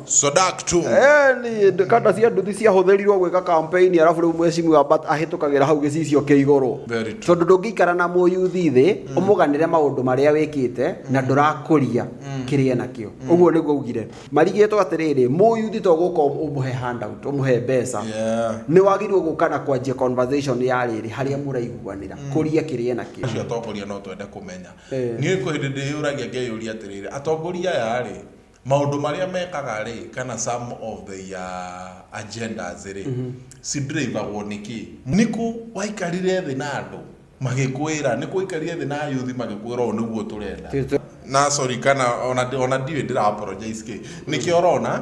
Sodak tu. Eh, ni kata cia nduthi ciahũthĩrirwo gwĩka kampeni arabu rĩu mwecimu abat ahĩtũkagĩra hau gĩcicio kĩ igũrũ Very true. tondũ ndũngĩikara na mũyuthi thĩ ũmũganĩre maũndũ marĩa wĩkĩte na ndũrakũria kĩrĩa nakĩo ũguo nĩguo augire marigĩtwo atĩrĩrĩ mũyuthi to gũka ũmũhe handout ũmũhe mbeca Yeah. nĩ wagĩrĩirwo gũka na kwanjia conversation ya rĩrĩ harĩa mũraiguanĩra kũria kĩrĩa nakĩo Acio atongoria no twende kũmenya Niĩ kwĩ hĩndĩ ndĩyũragia ngeyũria atĩrĩrĩ, atongoria aya-rĩ, maũndũ marĩa mekaga-rĩ, kana some of their agendas-rĩ, ci drive-agwo nĩ kĩĩ? Nĩkũ waikarire thĩ na andũ magĩkwĩra, nĩkũ waikarire thĩ na ayuthi magĩkwĩra ũũ nĩguo tũrenda? Na sorry kana ona ndiũĩ ndĩra apologize kĩĩ, nĩkĩo ũrona,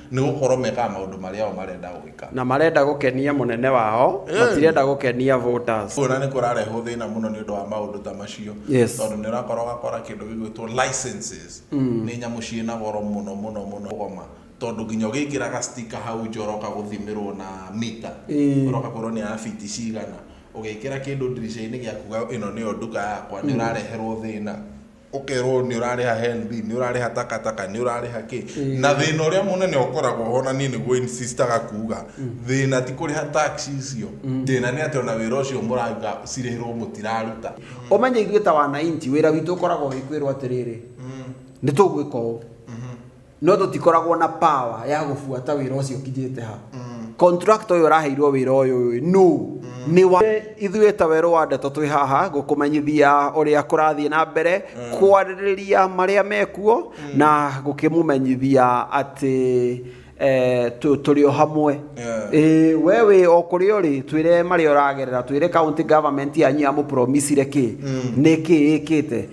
Nĩ gũkorwo mekaga maũndũ marĩa o marenda gwĩka. Na marenda gũkenia mũnene wao, matirenda gũkenia voters. Kuona nĩ kũrarehwo thĩna mũno nĩ ũndũ wa maũndũ ta macio. Yes. Tondũ nĩ ũrakora ũgakora kĩndũ gĩgwĩtwo licenses. Mm. Nĩ nyamũ ciĩ na goro mũno mũno mũno goma. Tondũ nginya ũgĩkĩraga sticker hau nja ũroka gũthimĩrwo na mita. Mm. Ũroka kwĩrwo nĩ ya biti cigana. Ũgĩkĩra kĩndũ ndirica-inĩ gĩaku ĩno nĩyo nduka yakwa, nĩ ũrareherwo thĩna. ũkerwo nĩ ũrarĩha HELB, nĩ ũrarĩha takataka, nĩ ũrarĩha kĩ. Na thĩna ũrĩa mũnene ũkoragwo ho na niĩ nĩguo insistaga kuga, thĩna ti kũrĩha tax icio, thĩna nĩ atĩ ona wĩra ũcio mũraruta cirĩhĩrwo mũtiraruta. Ũmenye ithuĩ ta wananchi wĩra witũ ũkoragwo wĩ kwĩrwo atĩrĩrĩ, nĩ tũgwĩka ũũ. no tũtikoragwo na power ya gũbuata wĩra ũcio ũkinyĩte ha contractor ũyũ ũraheirwo wĩra ũyũ ũyũ no nĩ wa ithuĩ ta werũ wa ndeto twĩ haha gũkũmenyithia ũrĩa kũrathiĩ na mbere kwarĩrĩria marĩa mekuo na gũkĩmũmenyithia atĩ eh, tũ- tũrĩ o hamwe Yeah. Ĩĩ, we wĩ o kũrĩa ũrĩ twĩre marĩa ũragerera twĩre county government yanyu yamũpromisire kĩ nĩ kĩ ĩkĩte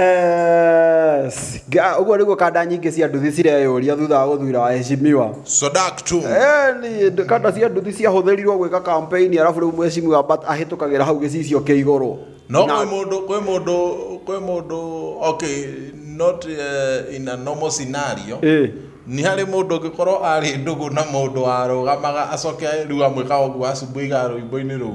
Yes. Ga- ũguo nĩguo kanda nyingĩ cia nduthi cireyũria thutha wa gũthura wa heshimiwa Sodak tu. Eh, nĩ- nd- kanda cia nduthi ciahũthĩrirwo gwĩka kampeni arabu rĩu mheshimiwa but ahĩtũkagĩra hau gĩcicio kĩa igũrũ No Na- kwĩ mũndũ kwĩ mũndũ kwĩ mũndũ okay not uh, in a normal scenario. Eh. Nĩ harĩ mũndũ ũngĩkorwo arĩ ndũgũ na mũndũ warũgamaga acoke rĩu amwĩka ũguo acumbuiga rũimbo-inĩ rũu.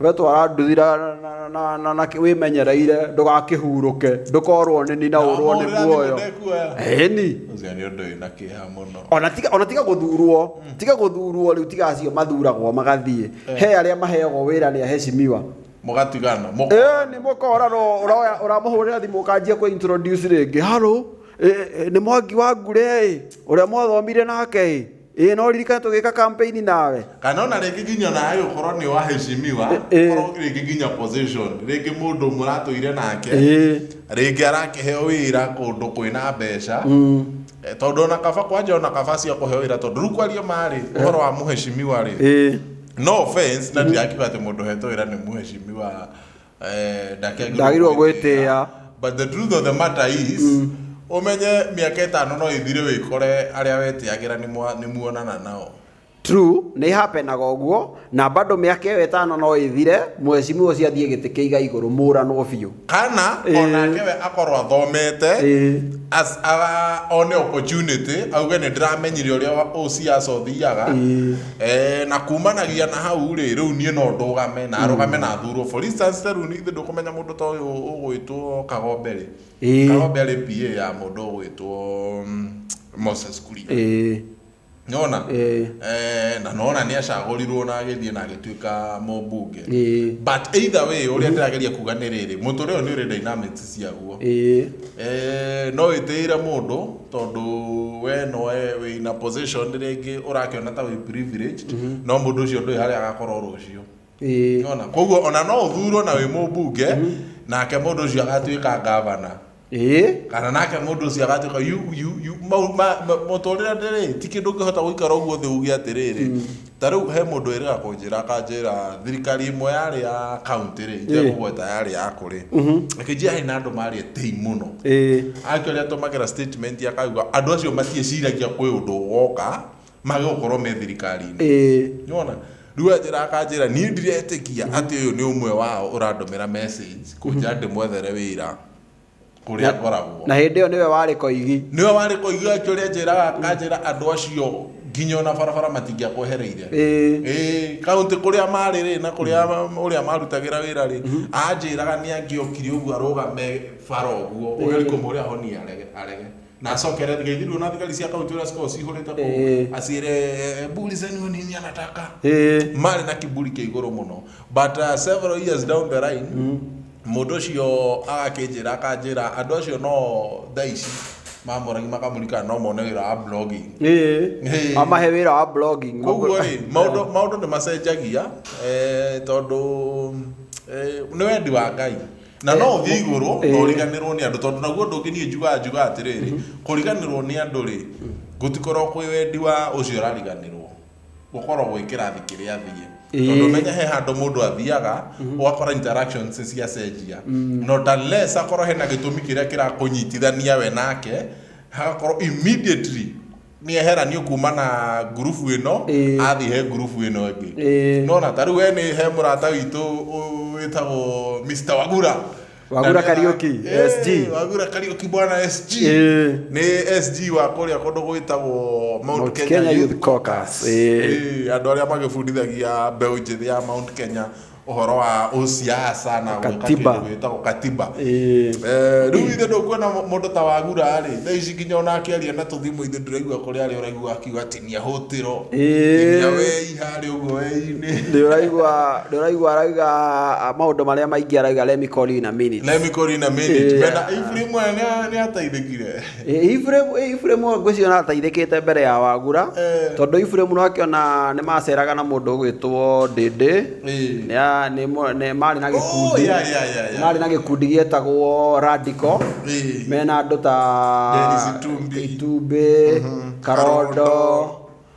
we twara nduthira na wimenyereire ndugakihurũke ndukorwo nini na urwo ni muoyo ni ona tiga ona tiga guthurwo mm. tiga guthurwo riu tiga acio mathuragwo magathie eh. he aria maheagwo wira ni aheshimiwa mugatigana eh ni mukora no uraoya uramuhurira thimu ukanjia ku introduce ringi haro eh, eh, ni mwangi wa ngure uria mwathomire nake Ĩĩ no ririkane tũgĩka campaign nawe. Kana ona rĩngĩ nginya nawe ũkorwo nĩ wa heshimiwa, ũkorwo rĩngĩ nginya position, rĩngĩ mũndũ mũratũire nake, rĩngĩ arakĩheo wĩra kũndũ kwĩna mbeca, tondũ ona kaba kwanja ona kaba acio akũheo wĩra tondũ rĩu kwaria ma rĩ, ũhoro wa mũheshimiwa rĩ, no offense na ndirakiuga atĩ mũndũ ũhetwo wĩra nĩ mũheshimiwa. Eh, ndakĩagĩrĩirwo Ndagĩrĩirwo gwĩtĩĩa. but the truth of the matter is ũmenye mĩaka ĩtano no ĩthire wĩkore arĩa wetĩagĩra nĩ mwa- nĩ muonana nao true nĩ hapenaga ũguo na bado mĩaka ĩyo ĩtano no ĩthire mwecimiwa ũcio athiĩ gĩtĩ kĩiga igũrũ mũranwo biũ kana Eh. onake we akorwo athomete Eh. as- a- one opportunity auge nĩ ndĩramenyire ũrĩa wa- ũciaca ũthiaga Eh, na kumanagia na hau rĩ rĩu niĩ no ndũgame na arũgame na athurwo for instance rĩu nĩ ithuĩ ndũkũmenya mũndũ ta ũyũ ũgwĩtwo kagombe rĩ Ĩĩ. kagombe arĩ PA ya mũndũ ũgwĩtwo mm, Moses Kuria Ĩĩ. nona Ĩĩ. eh, na nona nĩ acagũrirwo na agĩthiĩ na agĩtuĩka mũmbunge Ĩĩ. but either way ũrĩa ndĩrageria kuga nĩ rĩrĩ mũtũrĩ ũyũ nĩ ũrĩ dynamics ciaguo Ĩĩ. eh, no wĩtĩĩre mũndũ tondũ we no we wĩ na position rĩngĩ ũrakĩona ta wĩ privileged no mũndũ ũcio ndũĩ harĩa agakorwo rũciũ Ĩĩ. Nĩwona? koguo ona no ũthurwo na wĩ mũmbunge nake mũndũ ũcio agatuĩka ngavana Ĩĩ. kana nake mũndũ ũcio agatuĩka yu- yu- yu- mau- ma- ma- mũtũrĩre ndĩrĩ ti kĩndũ ũngĩhota gũikara ũguo thĩ uge atĩrĩrĩ Ta rĩu he mũndũ wĩrĩga kũnjĩra akanjĩra thirikari ĩmwe yarĩ ya kaunti rĩ itekũgweta yarĩ ya kũrĩ akĩnjĩra he na andũ marĩ etĩi mũno ĩĩ akĩrĩa atũmagĩra statement akauga andũ acio matiĩciragia kwĩ ũndũ ũgoka mage gũkorwo me thirikari-inĩ ĩĩ nĩwona rĩu anjĩra akanjĩra niĩ ndiretĩkia atĩ ũyũ nĩ ũmwe wao ũrandũmĩra message kũnjĩra ndĩmwethere wĩra kũrĩa Na- ngoragwo na hĩndĩ ĩyo nĩwe warĩ koigi nĩwe warĩ kũigua kĩũrĩa njĩraga kanjĩra andũ acio nginya ona barabara matingĩakwehereire Ĩĩ. Ĩĩ, kaũntĩ kũrĩa marĩ rĩ na kũrĩa ũrĩa marutagĩra wĩra rĩ anjĩraga nĩ angĩokire ũguo arũgame bara ũguo ũgeria kũmũrĩa ahonie arege arege nacokere thigaithirwo na thigari cia kaunti ũrĩa cikoragwo cihũrĩte kũu Eh. acire eh, mburi zenyu nini anataka Eh. marĩ na kiburi kĩa igũrũ mũno but uh, several years down the line mũndũ ũcio agakĩnjĩra akanjĩra andũ acio no thaa ici mamũragi makamũrika no mone wĩra wa blogging Eh. Eh. amahe wĩra wa blogging koguo rĩ maũndũ maũndũ nĩ macenjagia eh, tondũ eh, nĩ wendi wa ngai na no ũthiĩ igũrũ na Eh. ũriganĩrwo nĩ andũ tondũ naguo ũndũ ũngĩ niĩ njugaga njugaga atĩrĩrĩ kũriganĩrwo nĩ andũ rĩ gũtikorwo kwĩ wendi wa ũcio ũrariganĩrwo gũkorwo gwĩ kĩrathi kĩrĩa athiĩ Eh. tondũ menya he handũ mũndũ athiaga ũgakora interactions cia cenjia no unless akorwo hena gĩtũmi kĩrĩa kĩrakũnyitithania we nake hagakorwo immediately nĩ eheranio kuma na ngurubu ĩno Ĩĩ. athiĩ he ngurubu ĩno ĩngĩ Ĩĩ. nona ta rĩu we nĩ he mũrata witũ ũ- wĩtagwo Mr. Wagura Wagura Na nĩ- Kariuki, Ĩĩ, SG. Wagura Kariuki bwana SG Ĩĩ. nĩ SG wa kũrĩa kũndũ gwĩtagwo Mount Mount Kenya Kenya Youth Youth Caucus. Caucus. Ĩĩ. Ĩĩ, andũ arĩa magĩbundithagia mbeũ njĩthĩ ya Mount Kenya ũhoro wa ũciaca na gwĩka Ũkatiba. kĩndũ gĩtagwo katiba Eh, Eh, rĩu ithe ndũkuona mũndũ ta wagura rĩ thaa ici nginya ona akĩaria na tũthimũ ithe ndũraigua kũrĩ arĩa ũraigua akiuga ati nĩahũtĩro Eh. nginya wei harĩ ũguo wei-inĩ nĩ ũraigua nĩ ũraigua arauga ah, maũndũ marĩa maingĩ arauga let me call you in a minute Let me call you in a minute. Eh. Mena- Ibu rĩmwe nĩ- nĩ ateithĩkire Iburahimu ngwĩciria nĩ ateithĩkĩte mbere ya wagura Eh. tondũ Iburahimu nĩ akĩona nĩ maceraga na mũndũ ũgwĩtwo ndĩndĩ Eh. Nĩ a- nĩ mũ- nĩ- marĩ na Oh, gĩkundi yeah, yeah, yeah, yeah. marĩ na gĩkundi gĩetagwo radical Eh. mena andũ ta Dennis Itumbi. itumbĩ karondo Karondo.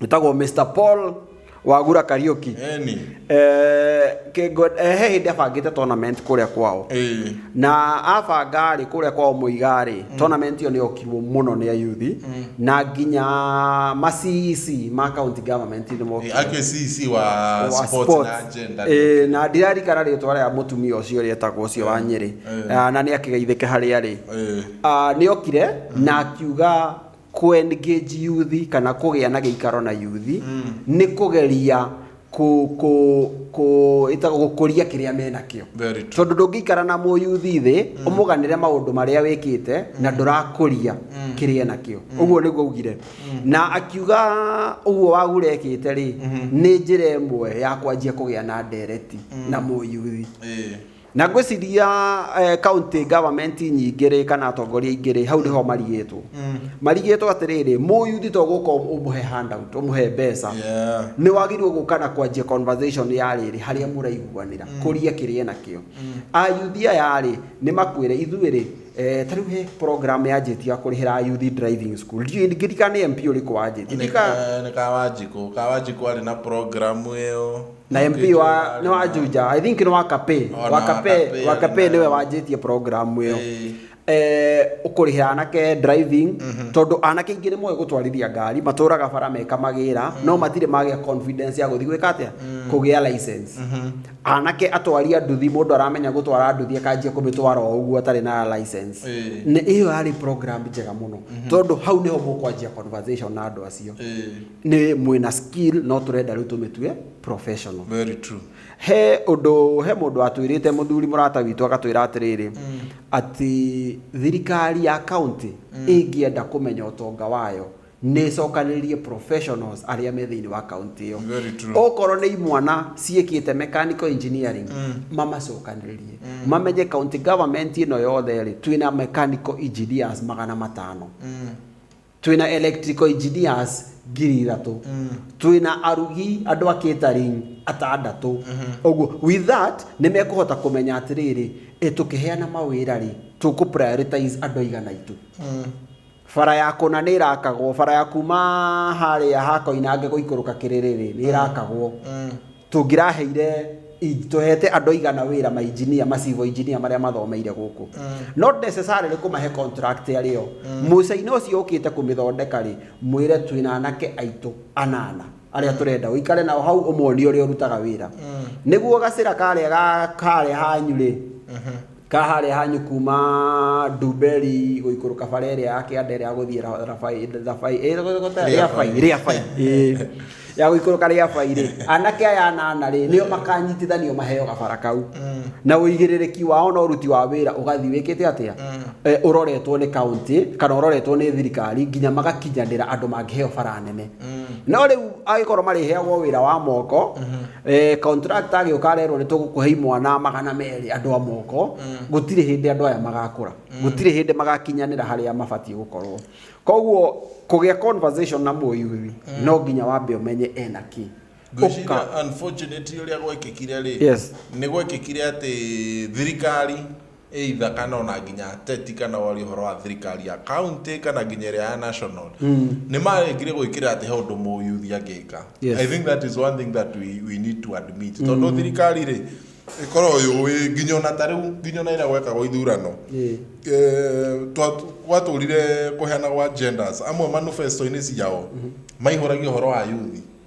ĩtagwo mr paul wagura kariuki Eni. Eh, kĩngo- eh, he hĩndĩ abangĩte tournament kũrĩa kwao Ĩĩ. na abanga rĩ kũrĩa kwao mũiga rĩ tournament ĩyo nĩyokirwo mũno nĩ ayuthi na nginya macici ma county government nĩ mokire. Ake CC wa wa sports na sports. agenda. Ĩĩ, na ndirarikana rĩtwa rĩa mũtumia ũcio ũrĩa etagwo ũcio wa nyĩrĩ Ĩĩ. Ah, na nĩ akĩgeithĩke harĩa rĩ Ĩĩ. Ah, nĩ okire na akiuga kũ-engage yuthi kana kũgĩa na gĩikaro na yuthi nĩ kũgeria kũ, kũ, kũ, ĩtagwo gũkũria kĩrĩa menakĩo Very true. tondũ ndũngĩikara na mũyuthi thĩ ũmũganĩre maũndũ marĩa wĩkĩte na ndũrakũria kĩrĩa enakĩo ũguo nĩguo augire na akiuga ũguo wagura ekĩte rĩ nĩ njĩra ĩmwe ya kwanjia kũgĩa na ndereti na mũyuthi Ĩĩ. Na ngwĩciria eh, county government nyingĩ rĩ kana atongoria aingĩ rĩ hau nĩho marigĩtwo mm. marigĩtwo atĩrĩrĩ mũyuthi to gũka ũmũhe handout ũmũhe mbeca Yeah. nĩ wagĩrĩirwo gũka na kwanjia conversation ya rĩrĩ harĩa mũraiguanĩra kũria kĩrĩa nakĩo ayuthi aya rĩ nĩ makwĩre ithuĩ rĩ eh, tarĩu he program yanjĩtie ya kũrĩhĩra ayuthi driving school Ndiũĩ- ngirika nĩ mp ũrĩkũ wanjĩtie Ndika- nikawanjikå kawanjikå arä na programu ä yo na MP Njuja wa arĩ nĩ wa na- Juja I think nĩ wa Kape O na wa Kape Wakape wa arĩ Kape na- nĩwe wanjĩtie program ĩyo Ĩĩ. eh ũkũrĩhĩra anake driving tondũ anake ingĩ nĩ moĩ gũtwarithia ngari matũraga bara meka magĩra no matirĩ magĩa confidence ya gũthiĩ gwĩka atĩa kũgĩa license anake atwaria nduthi mũndũ aramenya gũtwara nduthi akanjia kũmĩtwara o ũguo atarĩ na license Ĩĩ. nĩ ĩyo yarĩ program njega mũno tondũ hau nĩho mũkwanjia conversation na andũ acio Ĩĩ. nĩ mwĩna skill no tũrenda rĩu tũmĩtue professional very true he ũndũ he mũndũ watwĩrĩte mũthuri mũrata witũ agatwĩra atĩrĩrĩ mm. atĩ thirikari ya kaunti mm. ĩngĩenda kũmenya ũtonga wayo nä cokanä professionals arĩa me thĩinĩ wa kaunti ĩyo okorwo nĩ imwana ciĩkĩte mechanical engineering mm. mamacokanĩrĩrie mm. mamenye county government ĩno yothe rĩ twĩna mechanical engineers magana matano mm. Twĩ na electrical engineers ngiri ithatũ. Twĩ na arugi andũ a catering atandatũ. Ũguo, with that, nĩ mekũhota kũmenya atĩrĩrĩ, ĩ tũkĩheana mawĩra rĩ, tũkũ prioritize andũ aigana aitũ. Bara ya kũna nĩ ĩrakagwo, bara ya kuma harĩa ha Koinange gũikũrũka Kĩrĩrĩ rĩ, nĩ ĩrakagwo. tũngĩraheire i- tũhete andũ aigana wĩra ma engineer ma civil engineer marĩa mathomeire gũkũ not necessarily kũmahe contract arĩ o mũcaina ũcio ũkĩte kũmĩthondeka rĩ mwĩre twĩna anake aitũ anana arĩa tũrenda ũikare nao hau ũmonie ũrĩa ũrutaga wĩra nĩguo gacĩra karĩa ga- karĩa hanyu rĩ ka harĩa hanyu kuma ndumberi gũikũrũka bara ĩrĩa ya kĩanda ĩrĩa ya gũthiĩ Ra- rabai rabai eh, gũthiĩ- rĩabai rĩabai eh. ya gũikũrũka rĩabai rĩ anake aya anana rĩ nĩo makanyitithanio maheo gabara kau na ũigĩrĩrĩki wao na ũruti wa wĩra ũgathiĩ wĩkĩte atĩa Eh, ũroretwo nĩ kaũntĩ kana ũroretwo nĩ thirikari nginya magakinyanĩra andũ mangĩheo bara nene no rĩu angĩkorwo marĩheagwo wĩra wa moko Eh, contract agĩũka arerwo nĩ tũgũkũhe imwana magana merĩ andũ a moko gũtirĩ hĩndĩ andũ aya magakũra gũtirĩ hĩndĩ magakinyanĩra harĩa mabatiĩ gũkorwo koguo kũgĩa conversation na mũyui no nginya wambe ũmenye ena kĩ Ũka- ngwĩciria unfortunately ũrĩa gwekĩkire rĩ Yes. nĩ gwekĩkire atĩ thirikari either kana ona nginya ateti kana wari horo wa thirikari ya county kana nginya ĩrĩa ya national mm. nĩ marengire gwĩkĩra atĩ he ũndũ mũyuthi angĩka yes. i think that is one thing that we, we need to admit mm. tondũ thirikari rĩ ĩkorwo yũĩ nginya ona ta rĩu nginya ona ĩrĩa gwekagwo ithurano eh, gwatũrire kũheana gwa genders amwe manifesto-inĩ ciao mm-hmm. maihũragia ũhoro wa yuthi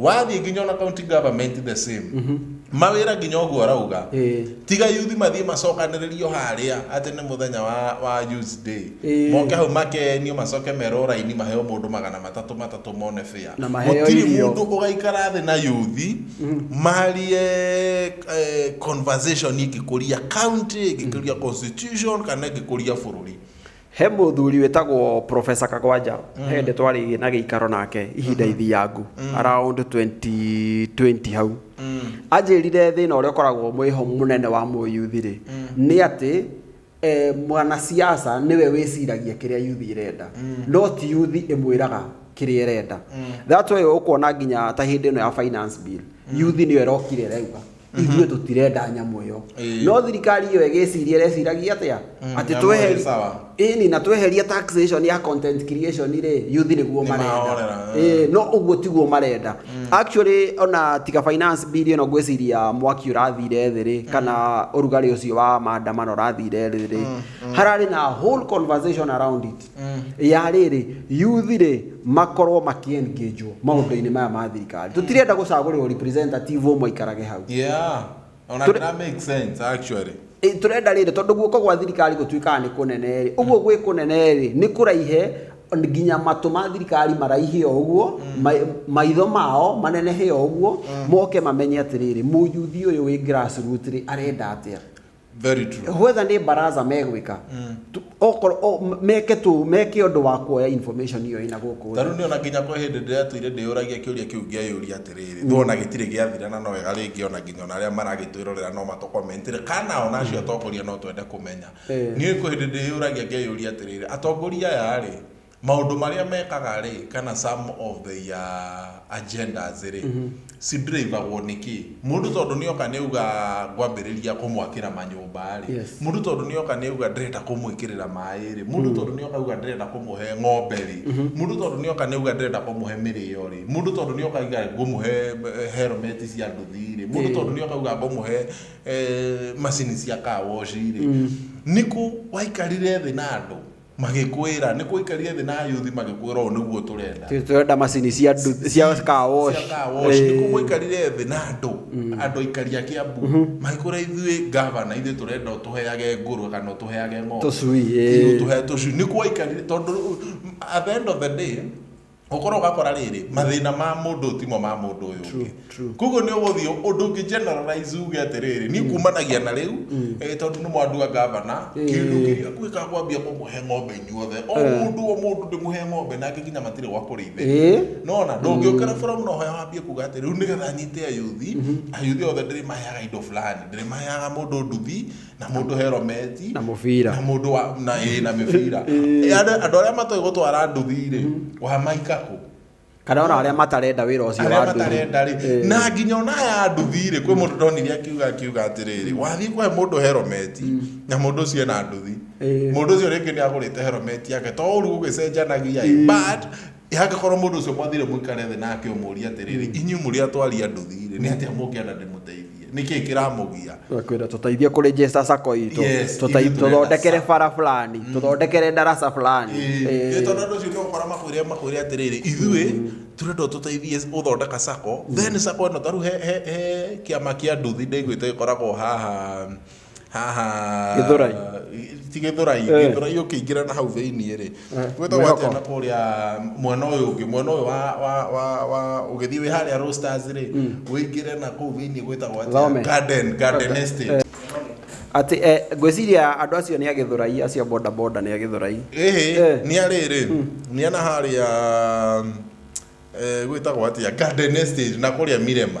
wathiĩ nginya ona county government the same mawĩra nginya ũguo arauga Ĩĩ. tiga yuthi mathiĩ macokanĩrĩrio harĩa atĩ nĩ mũthenya wa, wa youth day Ĩĩ. moke hau makenio macoke merwo raini maheo mũndũ magana matatũ matatũ mone bĩa Na maheo gũtirĩ irio. mũndũ ũgaikara thĩ na yuthi marie eh, conversation ĩngĩkũria county ĩngĩkũria constitution kana ĩngĩkũria bũrũri He mũthuri wĩtagwo Professor Kagwanja mm. hende twarĩ na gĩikaro nake ihinda mm-hmm. ithiangu mm. around 2020 hau mm. anjĩrire thĩna ũrĩa ũkoragwo mwĩho mũnene wa mũyuthi rĩ mm. nĩ atĩ e, mwanasiasa nĩwe wĩciragia kĩrĩa yuthi ĩrenda mm. no ti yuthi ĩmwĩraga kĩrĩa ĩrenda mm. that way ũkuona nginya ta hĩndĩ ĩno ya finance bill mm. yuthi nĩyo ĩrokire ĩrauga ithuĩ tũtirenda nyamũ ĩyo Ĩĩ. no thirikari ĩyo ĩgĩciria ĩreciragia atĩa Mm, atĩ nyamũ ĩrĩ sawa. tweherie ĩni na tweherie taxation ya content creation rĩ youth nĩguo Nĩ marenda mahorera, Ĩĩ, no ũguo tiguo marenda actually ona tiga finance bill ĩno ngwĩciria mwaki ũrathire thĩ rĩ kana ũrugarĩ ũcio wa maandamano ũrathire thĩ rĩ hararĩ na whole conversation around it ya rĩrĩ youth rĩ makorwo makiengagwo maũndũ-inĩ maya ma thirikari tũtirenda gũcagũrĩrwo representative ũmwe aikarage hau yeah ona Tũrĩ- that makes sense actually Ĩ, tũrenda rĩrĩ tondũ guoko gwa thirikari gũtuĩkaga nĩ kũnene rĩ ũguo gwĩ kũnene rĩ nĩ kũraihe nginya matũ ma thirikari maraihe o ũguo ma- maitho mao manenehe o ũguo moke mamenye atĩrĩrĩ mũyuthi ũyũ wĩ grassroot rĩ arenda atĩa Very true. whether nä baraza megwä ka meke tå meke å ndå wa kuoya information iyo ina gå kå Tarĩu nĩ ona nginya kwa hĩndĩ ndĩratũire ndĩyũragia kĩũria kĩu ngĩyũria atĩrĩrĩ thũ ona gĩtirĩ gĩathira na no wega rĩngĩ ona nginya ona arĩa maragĩtwĩrorera no matũkomentire kana ona acio atongoria no twende kũmenya Eh. niĩ kwĩ hĩndĩ ndĩyũragia ngeyũria atĩrĩrĩ atongoria aya rĩ Maũndũ marĩa mekaga rĩ, kana some of their agendas rĩ, ci-drive-agwo nĩ kĩĩ? Mũndũ tondũ nĩoka nĩauga ngwambĩrĩria kũmwakĩra manyũmba rĩ, Yes. mũndũ tondũ nĩoka nĩauga ndĩrenda kũmwĩkĩrĩra maĩ rĩ, mũndũ tondũ nĩoka auga ndĩrenda kũmũhe ng'ombe rĩ, mũndũ tondũ nĩoka nĩauga ndĩrenda kũmũhe mĩrĩo rĩ, mũndũ tondũ nĩoka auga ngũmũhe eh, helmet cia nduthi rĩ, mũndũ Ĩĩ. tondũ nĩoka auga ngũmũhe eh, macini cia car wash rĩ, nĩkũ waikarire thĩ na andũ magĩkwĩra nĩ kũikarire thĩ na ayuthi magĩkwĩra ũũ nĩguo tũrenda Tũ- tũrenda macini cia ndu- cia car wash. Cia car wash. Eh, Nĩ kũmũikarire thĩ na andũ andũ aikari a Kiambu magĩkwĩra ithuĩ gavana ithuĩ tũrenda ũtũheage ngũrwe kana ũtũheage ng'ombe Tũcui, eh. Ithuĩ ũtũhe tũcui nĩ kwaikarire tondũ at the end of the day gũkorwo ũgakora rĩrĩ mathĩna ma mũndũ ũyũ timo ma mũndũ ũyũ True, ũngĩ true. koguo nĩ ũgũthiĩ ũndũ ũngĩ generalize uge atĩrĩrĩ niĩ kumanagia na rĩu eh, tondũ nĩ mwandua ngavana kĩndũ kĩrĩa gwĩka kwambia kũmũhe ng'ombe inyuothe o mũndũ o mũndũ ndĩmũhe ng'ombe nake nginya matirĩ gwa kũrĩithĩria Eh. nona ndũngĩũkĩra forum no hoya wambie kuga atĩ rĩu nĩgetha nyite ayuthi ayuthi othe ndĩrĩmaheaga indo fulani ndĩrĩmaheaga mũndũ nduthi na mũndũ herometi na mũbira na mũndũ wa na ĩ na mĩbira Ĩ, andũ andũ arĩa matoĩ gũtwara nduthi-rĩ wa maikakũ kana ona arĩa matarenda wĩra ũcio arĩa wa nduthi. matarenda rĩ Ĩ. na nginya ona ya nduthi rĩ kwĩ mũndũ ndonire akiuga akiuga atĩrĩrĩ wathiĩ kũhe mũndũ herometi na mũndũ ũcio ena nduthi Ĩ. mũndũ ũcio rĩngĩ nĩ agũrĩte herometi yake to ũru gũgĩcenjanagia ĩ. but Angĩkorwo mũndũ ũcio mwathire mũikare thĩ nake ũmũũrie atĩrĩrĩ, mm. inyuĩ mũrĩ atwari a nduthi-rĩ, nĩ atĩa mũngĩenda ndĩmũteithie? Nĩ kĩĩ kĩramũgia? Kwĩra tũteithie kũ register sacco itũ, tũthondekere bara fulani, mm. tũthondekere darasa fulani. Nĩ tondũ andũ acio nĩ ũkora makwĩre makwĩre atĩrĩrĩ, ithuĩ mm. tũrenda tũteithie gũthondeka sacco, then sacco ĩno tarĩu he kĩama kĩa nduthi ndaiguĩte gĩkoragwo haha haha Gĩthũrai. ti gĩthũrai Eh. gĩthũrai ũkĩingĩra na hau thĩinĩ rĩ Eh, gwĩtagwo Mwĩhoko. atĩa na kũrĩa mwena ũyũ ũngĩ mwena ũyũ wa wa wa wa ũgĩthiĩ wĩ harĩa roasters rĩ wĩingĩre na kũu thĩinĩ gwĩtagwo atĩa Thome. garden garden estate atĩ eh, ngwĩciria andũ acio nĩ agĩthũrai acio boda boda nĩ agĩthũrai ĩhĩ Eh. nĩ arĩrĩ nĩ ana harĩa eh, gwĩtagwo atĩa garden estate na kũrĩa mirema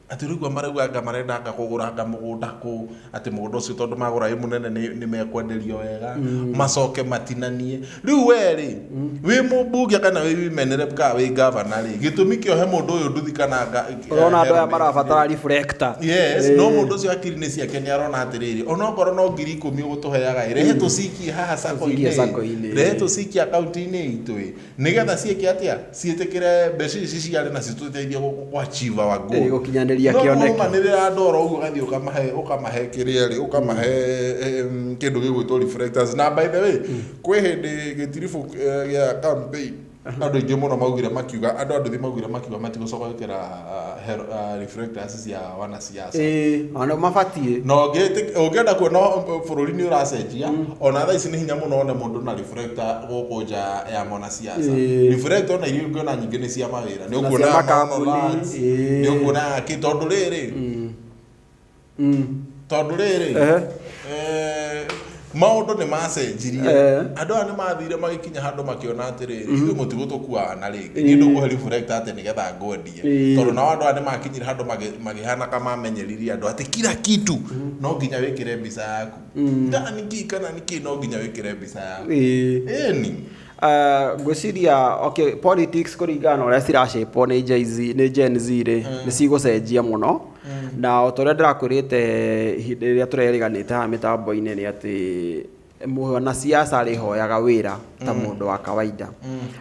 Atĩ ũraigua marauga anga marenda anga kũgũra anga mũgũnda kũ, atĩ mũgũnda ũcio tondũ magũra wĩ mũnene nĩ- nĩ mekwenderio wega, macoke matinanie. Rĩu we rĩ, wĩ mũmbunge kana wĩ women rep kana wĩ ngavana rĩ, gĩtũmi kĩa ũhe mũndũ ũyũ nduthi kana nga- ũrona andũ aya helmet marabatara rĩ, reflector Yes, Eh, no mũndũ ũcio akiri-inĩ ciake nĩ arona atĩrĩrĩ onokorwo no ngiri ikũmi ũgũtũheaga ĩ rehe tũcikie haha Tũcikie sacco-inĩ sacco-inĩ. ĩ, rehe tũcikie akaunti-inĩ itũ ĩ Nĩgetha ciĩke atĩa? Ciĩtĩkĩre mbeca ici ciarĩ na citũteithie gũachieve our goal. Ĩĩ, gũkinyanĩria No kĩoneki. nĩũrũmanĩrĩra ndoro ũguo ũgathiĩ ũkamahe ũkamahe kĩrĩa rĩ ũkamahe em, kĩndũ gĩgwĩtwo reflectors na by the way kwĩ hĩndĩ gĩtiribũ eh, gĩa campaign andũ aingĩ mũno maugire makiuga andũ a nduthi maugire makiuga matigũcoka gwĩkĩra ah, hel- ah, reflectors cia wanasiasa ĩĩ ona mabatiĩ na ũngĩtĩ- ũngĩenda kuona bũrũri nĩ ũracenjia ona thaa ici nĩ hinya mũno one mũndũ na reflector gũkũ nja ya mwanasiasa Ĩĩ. reflector ona iria ũngĩona nyingĩ nĩ cia mawĩra nĩ Na ũkuona cia ya makambuni, Maono Lads, ĩĩ. nĩ ũkuona ya kĩ tondũ rĩrĩ Mm. Mm. tondå rä rä maundu ni macenjirie eh. andu aya ni mathire magikinya handu makiona atiri ithu mm-hmm. mutigu tukuaga na ringi eh. ni ndu kuhe reflect ati ni getha ngwendie eh. tondu nao andu aya ni makinyire handu magihana ka mamenyeririe andu ati kila kitu mm-hmm. no nginya wikire mbica yaku mm. ndani ki kana niki no nginya wikire mbica yaku ni Ah, ngwĩciria okay, politics kũringana na ũrĩa ciracĩpwo nĩ Gen Z- nĩ Gen Z rĩ nĩ cigũcenjia mũno na o ta ũrĩa ndĩrakwĩrĩte ihinda rĩrĩa tũreriganĩte haha mĩtambo-inĩ nĩ atĩ mwanasiasa arĩhoyaga wĩra ta mũndũ wa kawaida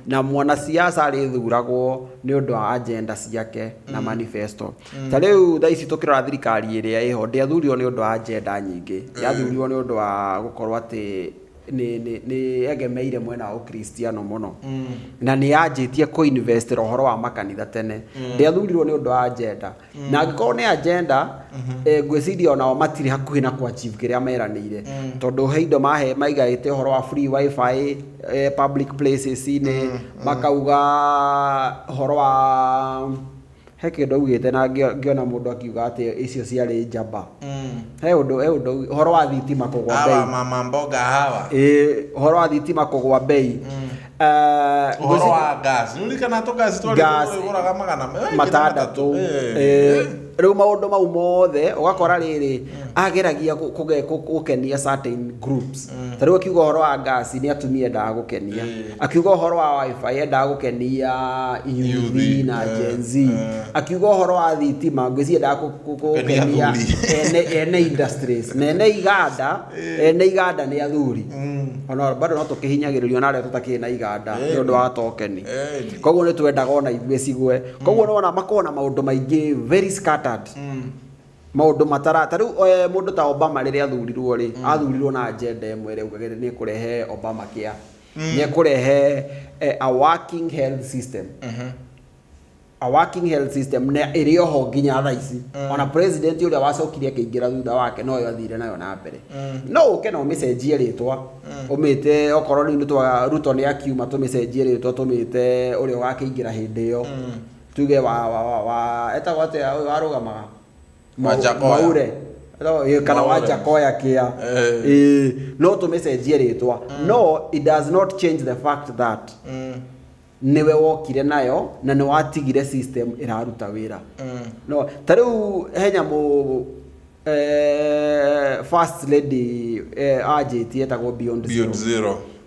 na mwanasiasa arĩthuragwo nĩ ũndũ wa agenda ciake na manifesto ta rĩu thaa ici tũkĩrora thirikari ĩrĩa ĩho ndĩathurirwo nĩ ũndũ wa agenda nyingĩ yathurirwo nĩ ũndũ wa gũkorwo atĩ nĩ egemeire mwena wa ũkristiano mũno mm. na nĩ yanjĩtie kũ invest ũhoro wa makanitha tene mm. ndĩathurirwo nĩ ũndũ wa agenda mm. na angĩkorwo nĩ agenda mm -hmm. e, ngwĩciria onao matirĩ hakuhĩ na kwa chief kĩrĩa meranĩire mm. tondũ he indo mahe maigaĩte ũhoro wa free wifi e, public places-inĩ mm. makauga ũhoro wa He kĩndũ augĩte na ngĩona mũndũ akiuga atĩ icio ciarĩ njamba. Mm. He ũndũ he ũndũ ũhoro wa thitima kũgwa bei. Hawa mama mboga hawa. Eh, ũhoro wa thitima kũgwa bei. Mm. Eh, ũhoro wa gas. Nĩ ũrikana tũ gas twarĩ tũgũraga magana matandatũ. Eh. eh. Rĩu maũndũ mau mothe ũgakora mm. rĩrĩ mm. ageragia gũkenia certain groups. Ta rĩu akiuga ũhoro wa gas nĩ atumia endaga gũkenia. akiuga ũhoro wa wifi endaga gũkenia yuthi Yuthi, na eh, Gen Z eh. akiuga ũhoro wa thitima ngwĩci endaga kũ- kũ- kũ- Kũkenia gũkenia athuri. ene- ene industries na ene iganda ene iganda nĩ athuri ona bado no tũkĩhinyagĩrĩrio na arĩa tũtakĩrĩ na iganda nĩ ũndũ wa tokeni Eh, ni. koguo nĩ twendaga ona ithuĩ cigwe koguo nĩ wona makorwo na maũndũ maingĩ very scattered maũndũ matara ta rĩu eh, mũndũ ta obama rĩrĩa athurirwo rĩ athurirwo na agenda ĩmwe ĩrĩa augagĩrĩ nĩ kũrehe obama kia mm. nä kå rehe eh, a working health system mm -hmm a working health system na iri oho nginya tha ici mm. ona president uria wacokire akingira thutha wake no yo athire nayo na mbere mm. no uke no micenjie ritwa mm. umite okorwo ni twa ruto ni akiuma tumicenjie ritwa tumite uria wakingira hindi yo tuge wa wa wa eta wate arugamaga Wajakoya. maure No, ĩ, kana Maure. wajakoya kia Eh. Ĩ, no tũmĩcenjie rĩtwa no it does not change the fact that Mm, nĩwe wokire nayo na nĩ watigire system ĩraruta wĩra mm. no ta rĩu he nyamũ eh, first lady eh, anjĩtie etagwo beyond Beyond zero zero.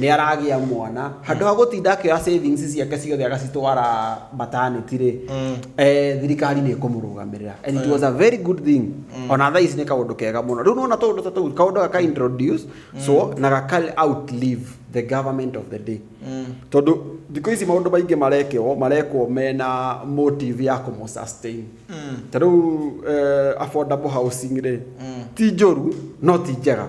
nĩ aragĩa mwana handũ ha gũtinda akĩoya savings ciake ciothe agacitwara maternity rĩ eh, thirikari nĩ ĩkũmũrũgamĩrĩra and it was a very good thing ona thaa ici nĩ kaũndũ kega mũno rĩu nona tũũndũ ta tũu kaũndũ gaka introduce so na gaka outlive the government of the day tondũ thikũ ici maũndũ maingĩ marekwo marekwo mena motive ya kũmũsustain ta rĩu eh, affordable housing rĩ ti njũru no ti njega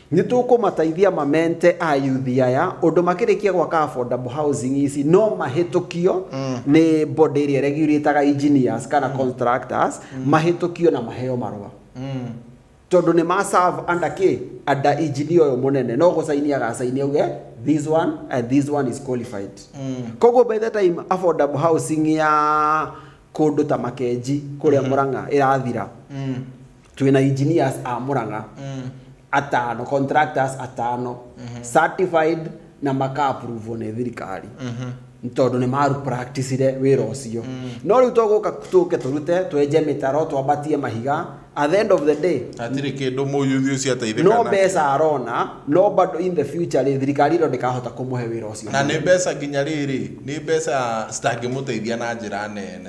Nĩ tũkũmateithia mamente ayuthi aya ũndũ makĩrĩkia gwaka affordable housing ici no mahĩtũkio nĩ body ĩrĩa regulataga engineers kana contractors mahĩtũkio na maheo marũa tondũ nĩ ma serve under kĩ under engineer ũyũ mũnene no gũcaini agacaini auge this one and this one is qualified koguo by the time affordable housing ya kũndũ ta makenji kũrĩa mũrang'a ĩrathira twĩ na engineers a mũrang'a atano contractors atano certified na makaapuruvwo nĩ thirikari Nĩ tondũ nĩ maru practicire wĩra ũcio no rĩu tũgũka tũke tũrute twenje mĩtaro twambatie mahiga at the end of the day hatirĩ kĩndũ mũyuthi ũcio ateithĩka no nakĩo. mbeca arona no bado in the future rĩ thirikari ĩno ndĩkahota kũmũhe wĩra ũcio na nĩ mbeca nginya rĩrĩ nĩ mbeca citangĩmũteithia na njĩra nene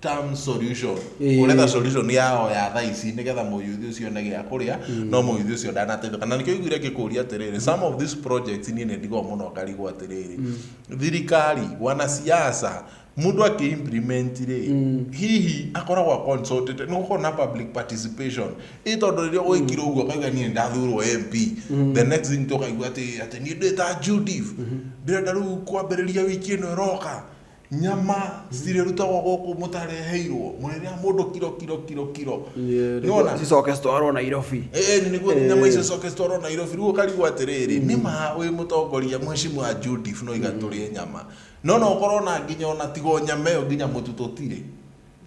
term solution Ĩĩ. ũretha solution yao ya thaa ici nĩgetha mũyuthi ũcio one gĩa kũrĩa no mũyuthi ũcio ndanateithĩka na nĩkĩo iguire ngĩkũria atĩrĩrĩ some of these projects niĩ nĩ ndigwo mũno ngarigwo atĩrĩrĩ thirikari wanasiasa mũndũ akĩ implement rĩ hihi akoragwo consulted nĩ gũkorwo na public participation ĩ tondũ rĩrĩa gwĩkirwo ũguo akauga niĩ ndathurwo MP the next thing tũkaigua atĩ atĩ niĩ ndĩ ta Judith ndĩrenda rĩu kwambĩrĩria wiki ĩno ĩroka nyama citirĩrutagwo gũkũ mũtareheirwo mũrĩrĩa mũndũ kiro kiro kiro kiro nĩwona cicoke citwarwo nairobi Ĩĩ, nĩguo nyama icio coke citwarwo nairobi rĩu ũkarigwo atĩrĩrĩ nĩ ma wĩ mũtongoria mheshimiwa judif no iga tũrĩe nyama no no ũkorwo na nginya ona tigo nyama ĩyo nginya mũtu tũtirĩ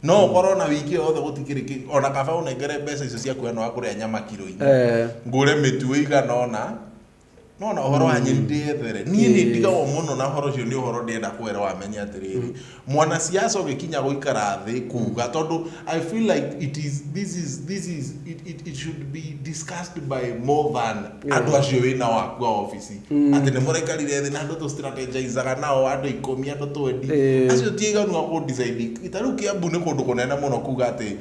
no ũkorwo na wiki ĩyo yothe gũtikĩrĩ kĩ- ona kaba ũnengere mbeca icio cia kuoya na wakũrĩa nyama kiro inya Eh. ngũre mĩtu ĩigana ona no na horo wa nyeri ndĩethere niĩ nĩ ndigagwo mũno na horo ũcio nĩ ũhoro ndĩenda kwera wamenye atĩrĩrĩ mwana siasa ũgĩkinya gũikara thĩ kuga tondũ i feel like it is this is this is it, it, it should be discussed by more than andũ acio wĩ na waku a office atĩ nĩ mũraikarire thĩ na andũ tũ strategizaga nao andũ ikũmi andũ twendi Eh. acio ti aiganu a kũ decide ta rĩu kĩambu nĩ kũndũ kũnene mũno kuga atĩ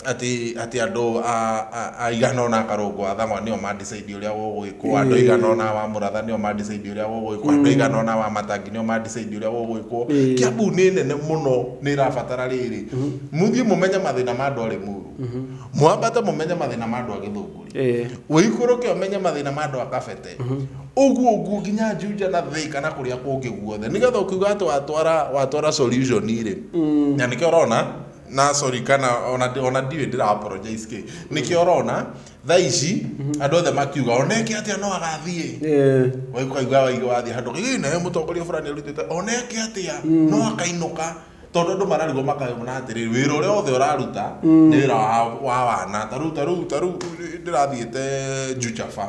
atĩ atĩ andũ a- a- a igana ona akarũngwo a thang'wa nĩo mandicidi ũrĩa gũgwĩkwo andũ Ĩĩ. igana ona wa mũratha nĩo mandicidi ũrĩa gũgwĩkwo andũ igana ona wa matangi nĩo mandicidi ũrĩa gũgwĩkwo Ĩĩ. kiambu nĩ nene mũno nĩ ĩrabatara rĩrĩ mũthiĩ mũmenye mathĩna ma andũ a rĩmuru mwambate mũmenye mathĩna ma andũ a gĩthũngũri Ĩĩ. ũikũrũke ũmenye mathĩna ma andũ a kabete ũguo ũguo nginya njunja na thĩka na kũrĩa kũngĩ guothe nĩgetha ũkiuga atĩ watwara watwara solution rĩ na nĩkĩo ũrona na sorry kana ona ndi- ona ndiwe ndira apologize ki niki orona tha ici andu othe makiuga oneke atia no agathie Eh, waikaigua waigua wathie handu ii nayo mutongoria fulani arutite oneke atia no akainuka tondu andu mararigwo makayona atiri wira uria othe uraruta ni wira wa wa wana taru taru taru ndirathiite njucafa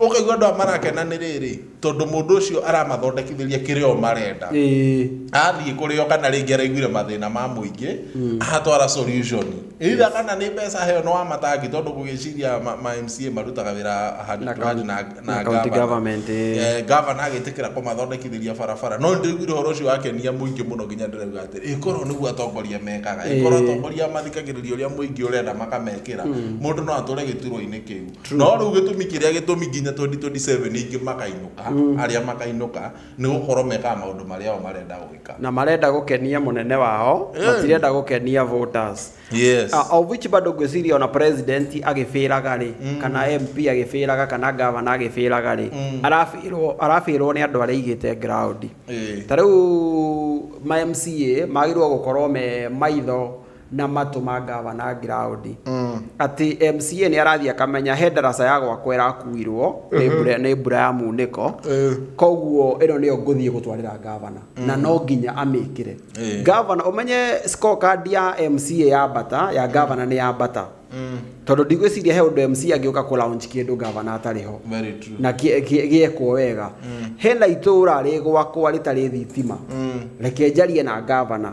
Ũkaigua andũ aya marakena nĩ rĩrĩ, tondũ mũndũ ũcio aramathondekithĩria kĩrĩa o marenda. Ĩĩ. Athiĩ kũrĩ o kana rĩngĩ araiguire mathĩna ma mũingĩ, ahatwara solution. Either kana nĩ mbeca aheo nĩ wa matangi tondũ ngũgĩciria ma ma MCA marutaga wĩra hand Na to hand county- na na na county governor. government, ĩĩ. Eh, governor agĩtĩkĩra kũmathondekithĩria barabara. No nĩndĩraiguire ũhoro ũcio wakenia mũingĩ mũno nginya ndĩrauga atĩrĩ, ĩ korwo nĩguo atongoria mekaga, ĩ korwo Ĩĩ. atongoria mathikagĩrĩria ũrĩa mũingĩ ũrenda makamekĩra, mũndũ no atũre gĩturwa-inĩ kĩu. no rĩu gĩtũmi kĩrĩa gĩtũmi nginya 2027 ingĩ makainũka arĩa makainũka nĩ gũkorwo mekaga maũndũ marĩa o marenda gwĩka na marenda gũkenia mũnene wao Eh. matirenda gũkenia voters yes Uh, of which bado ngwĩciria ona president agĩbĩraga rĩ kana mp agĩbĩraga kana gavana agĩbĩraga rĩ arabĩrwo arabĩrwo nĩ andũ arĩa igĩte ground Eh. ta rĩu ma mca magĩrĩirwo gũkorwo me maitho na matũ ma ngavana Ngiraũndi atĩ MCA nĩ arathiĩ akamenya he ndaraca ya gwakwa ĩrakuirwo nĩ mbura- nĩ mbura ya munĩko Eh. koguo ĩno nĩyo ngũthiĩ gũtwarĩra ngavana na no nginya amĩkĩre Eh. ngavana ũmenye scorecard ya MCA ya bata ya ngavana nĩ ya bata tondũ ndigwĩciria he ũndũ MCA angĩũka kũ launch kĩndũ ngavana atarĩ ho Very true. na gĩ- gĩ- gĩekwo wega hena itũra rĩ gwakwa rĩtarĩ thitima reke njarie na ngavana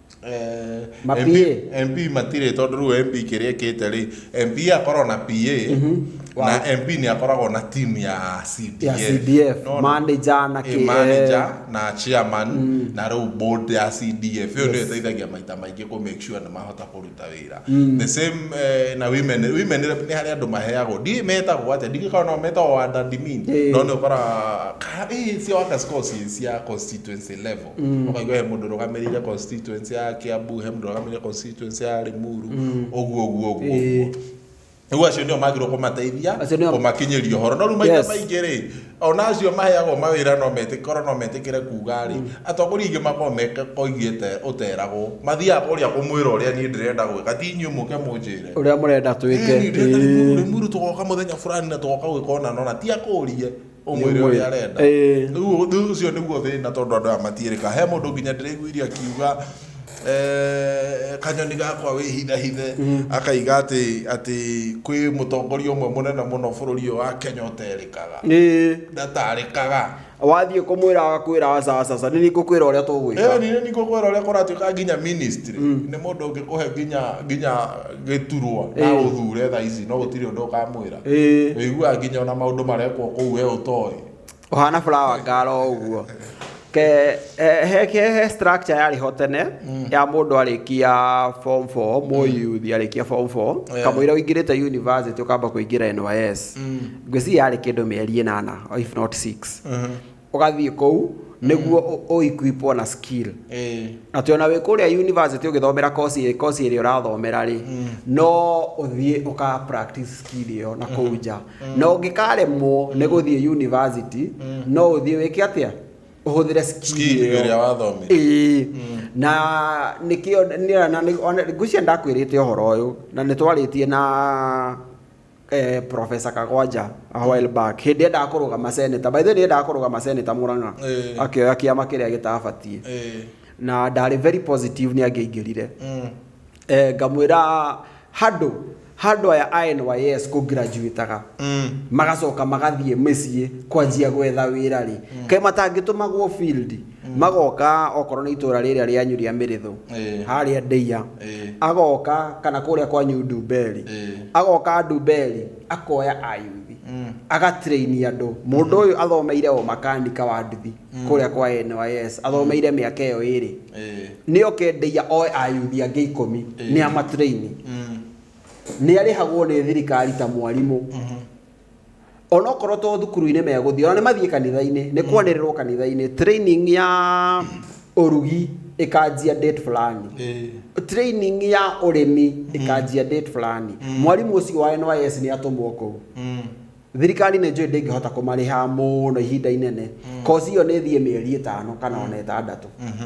Eh, Ma MP PA. MP matirĩ tondũ rĩu MP kĩrĩa ĩkĩte rĩ MP akorwo na PA na MP nĩ akoragwo na team ya CDF Ya CDF, Nona? manager na Eh, kĩ- manager na chairman na rĩu board ya CDF ĩyo nĩyo ĩteithagia maita maingĩ kũ make sure nĩ mahota kũruta wĩra the same eh, na women women rep nĩ harĩ andũ maheagwo ndiĩ metagwo atĩa ndingĩkorwo no metagwo admin Eh. no nĩ ũkoraga "Ka- eh, cia workers call ci cia constituency level ũkaigua he mũndũ ũrũgamĩrĩire constituency ya Kiambu he mũndũ ũrũgamĩrĩire constituency ya Limuru ũguo ũguo ũguo Ĩĩ. ũguo rĩu acio nĩo magĩrĩirwo kũmateithia Acio nĩo- kũmakinyĩria ũhoro no rĩu maita Yes. maingĩ rĩ ona acio maheagwo mawĩra no metĩ- korwo no metĩkĩre kuga rĩ atongoria aingĩ makorwo mekoigĩte ũteragwo mathiaga kũrĩa kũmwĩra ũrĩa niĩ ndĩrenda gwĩka ti inyuĩ mũke mũnjĩre ũrĩa mũrenda twĩke Ĩĩ, nĩ ndĩrenda Ĩĩ. Limuru- Limuru tũgoka mũthenya fulani na tũgoka gwĩka ũna nona ti akũrie ũmwĩre ũrĩa arenda Eh. rĩu ũ- rĩu ũcio nĩguo thĩna tondũ andũ aya matiĩrĩka he mũndũ nginya ndĩraiguire akiuga eh, kanyoni gakwa wĩhithahithe akaiga atĩ atĩ kwĩ mũtongoria ũmwe mũnene mũno bũrũri ũyũ wa kenya ũterĩkaga Ĩĩ. ndatarĩkaga wathiĩ kũmwĩra agakwĩra acacaca nĩ nĩngũkwĩra ũrĩa tũgwĩka ĩni nĩkũkwĩra ũrĩa kũratuĩka nginya ministry nĩ mũndũ ũngĩkũhe nginya nginya gĩturwa na Ĩĩ. ũthure tha ici no gũtirĩ ũndũ ũkamwĩra Ĩĩ. ũiguaga nginya ona maũndũ marekwo kũu we ũtoĩ ũhana flower girl o ũguo ke he- he- he he structure yarĩ ho tene ya mũndũ arĩkia form 4 mũyuthi arĩkia form 4 Yeah. kamũira ũingĩrĩte university ũkamba kũingĩra NYS ngwĩciria yarĩ kĩndũ mĩeri ĩnana or if not 6 ũgathiĩ kũu nĩguo ũ- ũequipwo na skill Eh, atĩ ona wĩ kũrĩa university ũgĩthomera kosi kosi ĩrĩa ũrathomera rĩ no ũthiĩ ũka practice skill ĩyo na kũu nja na ũngĩkaremwo nĩ gũthiĩ university no ũthiĩ wĩke atĩa ũhũthĩre skill skill ĩyo ĩrĩa wathomire Ĩĩ. na nĩkĩo nĩ- na nĩ- ona- ngwĩciria ndakwĩrĩte ũhoro ũyũ na nĩ twarĩtie na eh, professor kagwanja a while back hindi endaga kurugama senator by the way nĩ endaga kurugama senator muranga Eh. akioya kiama kiria gitabatie Eh, na ndarĩ very positive nĩ angĩaingĩrire mm, eh, ngamwĩra handũ handũ aya a nys kũgraduataga mm, magacoka magathiĩ mĩciĩ kwanjia gwetha wĩra rĩ kaĩ matangĩtũmagwo field magoka okorwo nĩ itũra rĩrĩa rĩa nyuria mĩrĩthũ Eh. harĩa ndeia Eh. agoka kana kũrĩa kwanyu ndumberi Eh. agoka ndumberi akoya ayuthi Mm. agatraini andũ mũndũ ũyũ athomeire o makanika wa nduthi kũrĩa kwa NYS athomeire mĩaka ĩyo ĩrĩ Eh. nĩ oke ndeia oe ayuthi angĩ ikũmi Eh. nĩ amatraini Mm. nĩ arĩhagwo nĩ thirikari ta mwarimũ onokorwo to thukuru-inĩ megũthiĩ ona nĩ mathiĩ kanitha-inĩ nĩ kwanĩrĩrwo kanitha-inĩ training ya ũrugi ĩkanjia date fulani Ĩĩ. training ya ũrĩmi ĩkanjia date fulani mwarimũ ũcio wa NYS nĩ atũmwo kũu Mm. thirikari nĩ njũĩ ndĩngĩhota kũmarĩha mũno ihinda inene kosi ĩyo nĩ ĩthiĩ mĩeri ĩtano kana ona ĩtandatũ Mhm.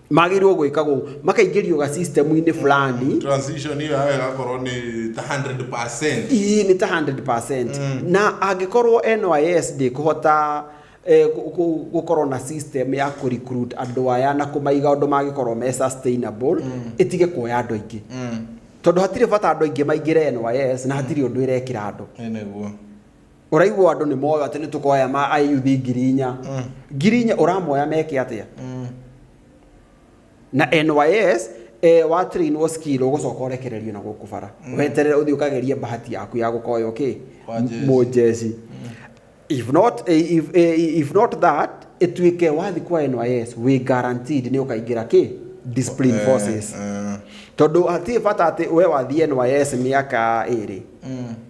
magĩrĩirwo gwĩkagwo makaingĩrio ga system-inĩ fulani transition hiyo yawe gakorwo ni ta 100% ii nĩ ta 100% mm. na angĩkorwo NYS ndĩkũhota eh, gu- gu- gũkorwo na system ya kũ recruit andũ aya na kũmaiga ũndũ mangĩkorwo me sustainable mm. ĩtige kuoya andũ aingĩ mm. tondũ hatirĩ bata andũ aingĩ maingĩre NYS na hatirĩ ũndũ ĩrekĩra andũ nĩ nĩguo ũraigua andũ nĩ moyo atĩ nĩ tũkoya ma ayuthi ngiri inya mm. ngiri inya ũramoya meke atĩa mm. na nys e, wa train wo skill ũgũcoka ũrekererio na gũkũ bara mm. weterere ũthiĩ ũkagerie bahati yaku ya gũkoywo kĩ mũjeci mm. if not eh, if, eh, if not that ĩtuĩke wathi kwa nys wĩ guaranteed nĩ ũkaingĩra kĩ discipline eh, forces tondũ hatirĩ bata atĩ we wathiĩ nys mĩaka ĩrĩ mm.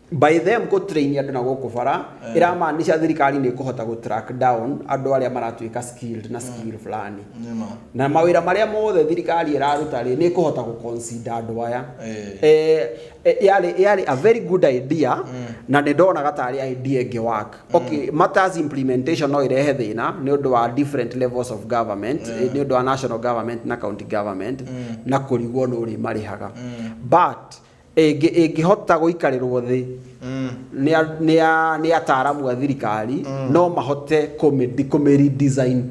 By them kũ train andũ na gũkũ bara eh. ĩramaanisha thirikari nĩ ĩkũhota gũ track down andũ arĩa maratuĩka skilled na eh. skill fulani na mawĩra marĩa mothe thirikari ĩraruta rĩ nĩ ĩkũhota gũ consider andũ aya eh. yarĩ yarĩ a very good idea mm. na nĩ ndonaga tarĩ idea ĩngĩ work mm. okay matters implementation no irehe thĩna nĩ ũndũ wa different levels of government nĩ ũndũ wa national government na county government mm. na kũrigwo nũ rĩ marĩhaga but Ĩngĩ- ĩngĩhota gũikarĩrwo thĩ nĩ a- nĩ a- nĩ ataaramu a thirikari no mahote kũmĩ- kũmĩ-redesign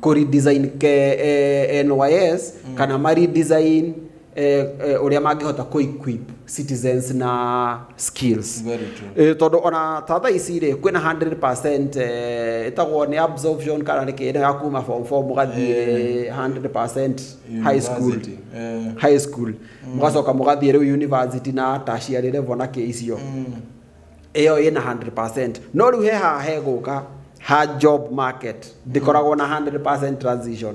kũ-redesign ke- eh, NYS kana ma-redesign eh, eh, ũrĩa mangĩhota kũ-equip citizens na skills Very true. Eh, tondũ ona ta thaa ici rĩ kwĩna 100% eh, ĩtagwo nĩ absorption kana nĩ kĩndũ ya kuma form 4 mũgathiĩ 100% high school University. Eh. high school mũgacoka mũgathiĩ rĩu university na tertiary level na kĩ icio ĩyo ĩna 100% no rĩu he haha hegũka ha job market ndĩkoragwo na 100% transition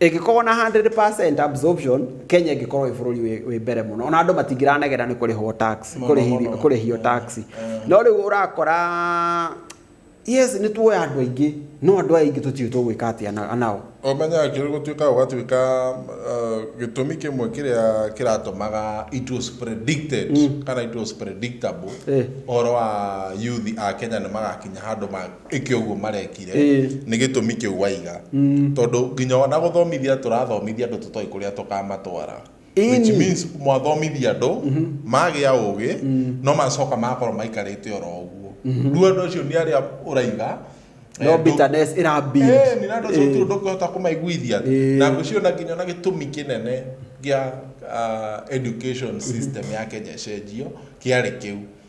ĩngĩkorwo na 100% absorption kenya ĩngĩkorwo ĩ bũrũri wĩ- wĩ mbere mũno ona andũ matingĩranegera nĩ kũrĩhwo tax Mũno, kũrĩhi- mũno. kũrĩhio tax no rĩu ũrakora Yes, nĩ tuoya andũ aingĩ, no andũ aya aingĩ tũtiũĩ tũgwĩka atĩa na- nao. Ũmenye akĩrĩ gũtuĩka ũgatuĩka uh, gĩtũmi kĩmwe kĩrĩa kĩratũmaga it was predicted mm. kana it was predictable Eh. ũhoro wa yuthi a Kenya nĩ magakinya handũ ĩke ũguo marekire Eh. nĩ gĩtũmi kĩu waiga mm. tondũ nginya ona gũthomithia tũrathomithia andũ tũtoĩ kũrĩa tũkamatwara which Ĩni. means mwathomithia andũ magĩa ũgĩ no macoka makorwo maikarĩte oro ũguo rĩu andũ acio nĩ arĩa ũraiga eh, no ndũ- bitterness ĩra build. Eh, nĩ na andũ acio Eh. tu ndũkũhota kũmaiguithia Eh. na ngũciona nginya na gĩtũmi kĩnene gĩa ah, education system ya Kenya ĩcenjio kĩarĩ kĩu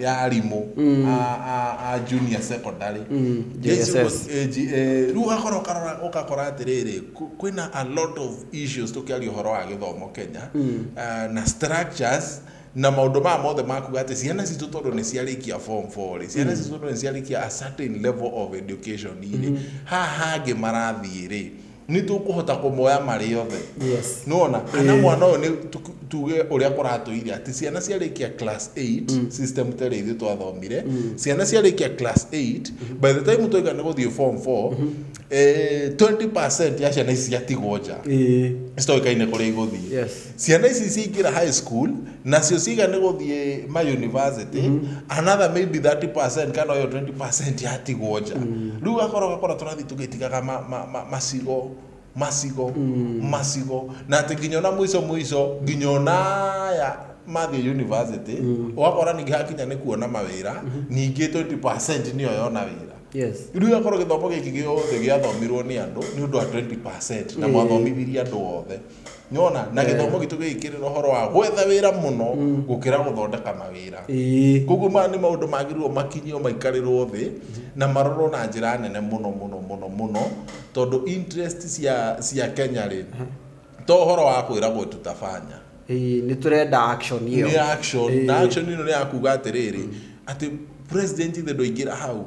ya arimũ mm. a junior secondary mm, rĩu ũgakorwo ũgakora atĩrĩrĩ kwĩna a lot of issues tũkĩaria ũhoro wa gĩthomo kenya mm. na structures na maundu ma mothe makuga ati ciana citu tondu ni ciarikia form 4 ri ciana citu tondu ni ciarikia a certain level of education ri mm-hmm. ha hangi marathii ri nĩ tũkũhota kũmoya marĩ othe yes nona kana Eh. mwana ũyũ nĩ tu- tuge ũrĩa kũratũire atĩ ciana ciarĩkia class 8 system terĩ ithuĩ twathomire ciana ciarĩkia class 8 by the time twaika nĩ gũthiĩ form 4 eh, 20 ya ciana ici ciatigwo nja Ĩĩ. citoĩkaine kũrĩa igũthiĩ yes ciana ici ciingĩra high school nacio ciga nĩ gũthiĩ ma university mm -hmm. another maybe 30% kana yo 20% yatigwo nja mm. rĩu gakora gakora tũrathiĩ tũgĩtigaga ma, ma, ma, macigo macigo mm. macigo na atĩ nginya ona mũico mũico nginya onaya mathiĩ university mm. ũgakora ningĩ hakinya nĩ kuona mawĩra mm -hmm. ningĩ 20% nĩyo yona wĩra rä u akorwo gä thomo gä kä gä othe gä athomirwo nä andå nä å ndå wa 20 na mwathomithirie andå othe nĩwona na Eh. gĩthomo gitũ gĩgĩkĩrĩra ũhoro wa gwetha wĩra mũno Mm. gũkĩra gũthondeka mawĩra Ĩĩ. koguo maya nĩ maũndũ magĩrĩirwo makinyio maikarĩrwo thĩ na marorwo na njĩra nene mũno mũno mũno mũno tondũ interest cia, cia kenya rĩ to ũhoro wa kwĩragwo tutabanya Ĩĩ, nĩ tũrenda action ĩyo nĩ action Ĩĩ. na action ĩno nĩ ya kuga atĩrĩrĩ atĩ president ithe ndũingĩra hau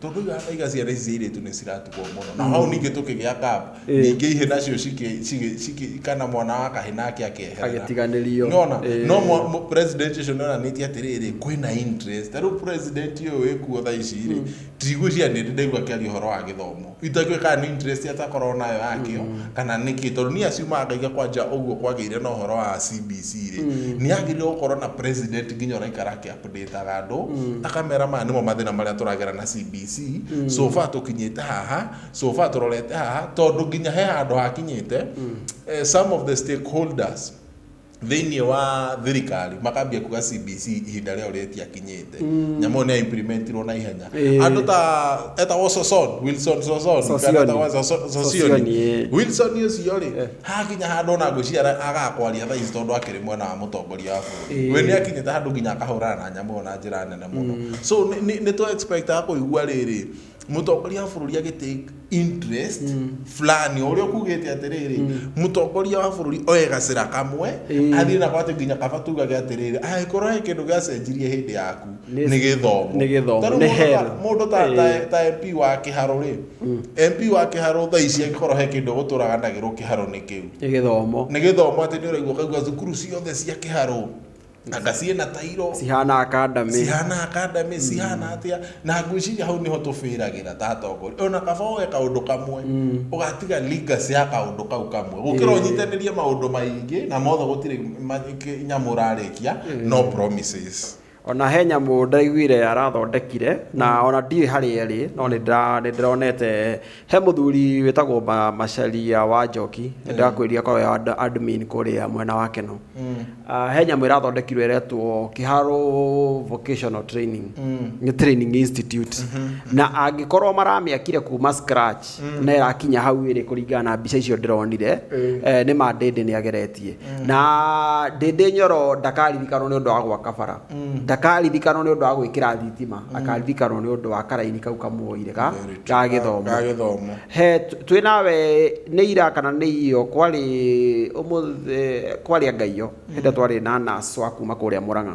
tũkĩuga hau iga ciana ici cia irĩtu nĩ ciratukwo mũno na hau ningĩ tũkĩgĩa gap Eh. ningĩ ihĩ nacio cikĩ- cikĩ- cikĩ- kana mwana wa kahĩ nake akeherera Agĩtiganĩrio. nona Eh. no mwa- mũ- president ũcio nĩonanĩtie atĩrĩrĩ kwĩna interest ta rĩu president ũyũ wĩkuo tha ici rĩ ndigwĩciria nĩ ndaigua akĩaria ũhoro wa gĩthomo itakĩũĩ kana nĩ interest atakorwo nayo yakĩo kana nĩkĩ tondũ niĩ aciumaga ngaiga kwanja ũguo kwagĩire na ũhoro wa CBC rĩ nĩ agĩrĩirwo gũkorwo na president nginya ũraikara akĩa ndĩtaga andũ mm. ta kamera maya nĩmo mathĩna marĩa tũragera na cbc mm. so far tũkinyĩte haha so far tũrorete haha tondũ nginya he handũ hakinyĩte mm. eh, some of the stakeholders thĩinĩ wa thirikari makambia kuga cbc ihinda rĩao rĩtiakinyĩte mm. nyamũ nĩ implementirwo na ihenya eh. andũ ta etagwo soson wilson soson wilson ũcio rĩ eh. Hakinya handũ ona ngwĩciria ara- agaga kwaria thaa ici tondũ akĩrĩ mwena wa mũtongoria wa bũrũri Ĩĩ. we nĩ akinyĩte handũ nginya akahũrana na nyamũ ĩyo na njĩra nene mũno so nĩ- nĩ nĩ twa expectaga kũigua rĩrĩ mũtongoria wa bũrũri agĩ take interest fulani o ũrĩa ũkugĩte atĩrĩrĩ mũtongoria wa bũrũri oe gacĩra kamwe Ĩĩ. athiĩ nako atĩ nginya kaba tugage atĩrĩrĩ angĩkorwo he kĩndũ gĩacenjirie hĩndĩ yaku Nĩ- nĩ gĩthomo nĩ gĩthomo, Tondũ nĩ mũndũ ta- hell. mũndũ ta- ta- Ĩĩ. ta MP wa kĩharũ rĩ MP wa kĩharo thaa ici angĩkorwo he kĩndũ egũtũraga ndagĩrwo kĩharo-inĩ kĩu nĩ gĩthomo nĩ gĩthomo atĩ nĩ ũraigua ũkaigua thukuru ciothe cia kĩharo anga ciĩ na tairo cihana akandamĩ cihana akandamĩ cihana atĩa na ngwĩciria hau nĩho tũbĩragĩra ta atongoria ona kaba woe kaũndũ kamwe ũgatiga legacy ya kaũndũ kau kamwe gũkĩra Ĩĩ. ũnyitanĩrie maũndũ maingĩ na mothe gũtirĩ ma- kĩ- nyamũ ũrarĩkia no promises Ona he nyamũ ndaiguire arathondekire na mm. ona ndiĩ harĩa ĩrĩ no nĩ ndĩronete he mũthuri wĩtagwo Macharia wa Njoki nĩ mm. ndakwĩria korwo ya admin kũrĩa mwena wa Keno mm. ah, he nyamũ ĩrathondekirwo ĩretwo Kĩharo Vocational Training nĩ Training Institute mm-hmm. na angĩkorwo maramĩakire kuma scratch na ĩrakinya hau ĩrĩ kũringana na mbica icio ndĩronire eh, nĩ ma ndĩndĩ nĩ ageretie na ndĩndĩ nyoro ndakaririkanwo nĩ ũndũ wa gwaka bara ndakaririkanwo nĩ ũndũ wa gwĩkĩra thitima akaririkanwo nĩ ũndũ wa karaini kau kamuoire ga ga gĩthomo ga gĩthomo he twĩ nawe nĩ ira kana nĩ iyo kwarĩ ũmũthĩ kwarĩ angaiyo hĩndĩ twarĩ na naso a kuma kũrĩa Murang'a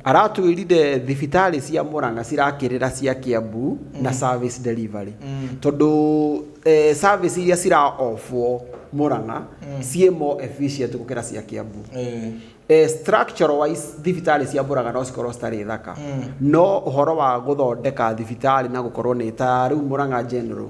aratwĩrire thibitarĩ cia Murang'a cirakĩrĩra cia Kiambu na service delivery tondũ eh, service iria cira ofwo Murang'a ciĩ more efficient gũkĩra cia Kiambu Eh. eh, structure wise thibitarĩ cia Murang'a no cikorwo citarĩ thaka no ũhoro wa gũthondeka thibitarĩ na gũkorwo nĩ ta rĩu Murang'a general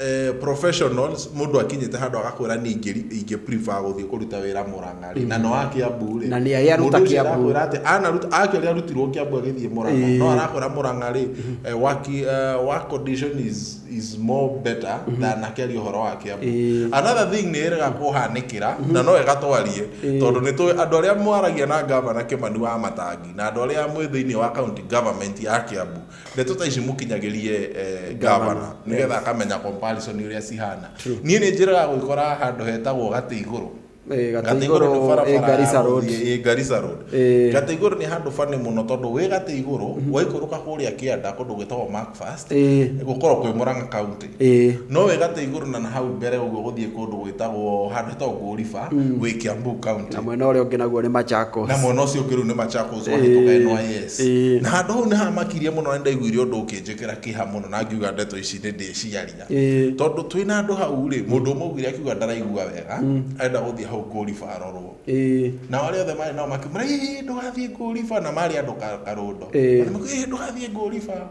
eh, professionals mundu akinyite handu agakwira ni ingiri ingi prefer guthie kuruta wira muranga ri na no akia mburi Na nĩ arĩa aruta Kiambu. ati ana ruta aki ari arutirwo kiambu agithie muranga Ĩĩ. no arakwira muranga ri eh, waki eh, work condition is is more better than akeri horo wa kiambu Ĩĩ. another thing ni erega kuhanikira na no egatwarie tondu ni tu andu aria mwaragia na gavana kimani wa matangi na andu aria mwe thiini wa county government ya kiambu ndeto ta ici mukinyagirie eh, gavana nigetha akamenya comparison uria cihana nie ni njiraga gwikora handu hetagwo gati iguru Eh, Gatĩ gati iguru Igũrũ, ni barabara eh, Garissa ya Road. gũthiĩ- eh, Garissa road Eh. gati iguru ni handu bani muno tondu wi gati iguru waikuruka kuria kianda kundu gwitagwo macfast Eh. gukorwo kwi muranga county Ĩĩ. no wĩ gatĩ igũrũ na nahau mbere ũguo gũthiĩ kũndũ gwĩtagwo handũ hetagwo ngũriba wĩ kiambu county Na mwena ũrĩa ũngĩ naguo nĩ Machakos. na mwena ũcio ũngĩ rĩu nĩ Machakos wahĩtũka Ĩĩ. NYS Ĩĩ. na handũ hau nĩ hamakirie mũno na nĩ ndaiguire ũndũ ũkĩnjĩkĩra kĩha mũno na ngiuga ndeto ici nĩ ndĩciaria Ĩĩ. tondũ twĩ na andũ hau rĩ mũndũ ũmwe augire akiuga ndaraigua wega arenda gũthiĩ hau ngũriba arorwo Ĩĩ. na arĩa othe marĩ nao makĩmwĩra "Ĩĩ, ndũgathiĩ ngũriba na marĩ andũ ka- karũndo Ĩĩ. Makĩmwĩra, "Ĩĩ, ndũgathiĩ ngũriba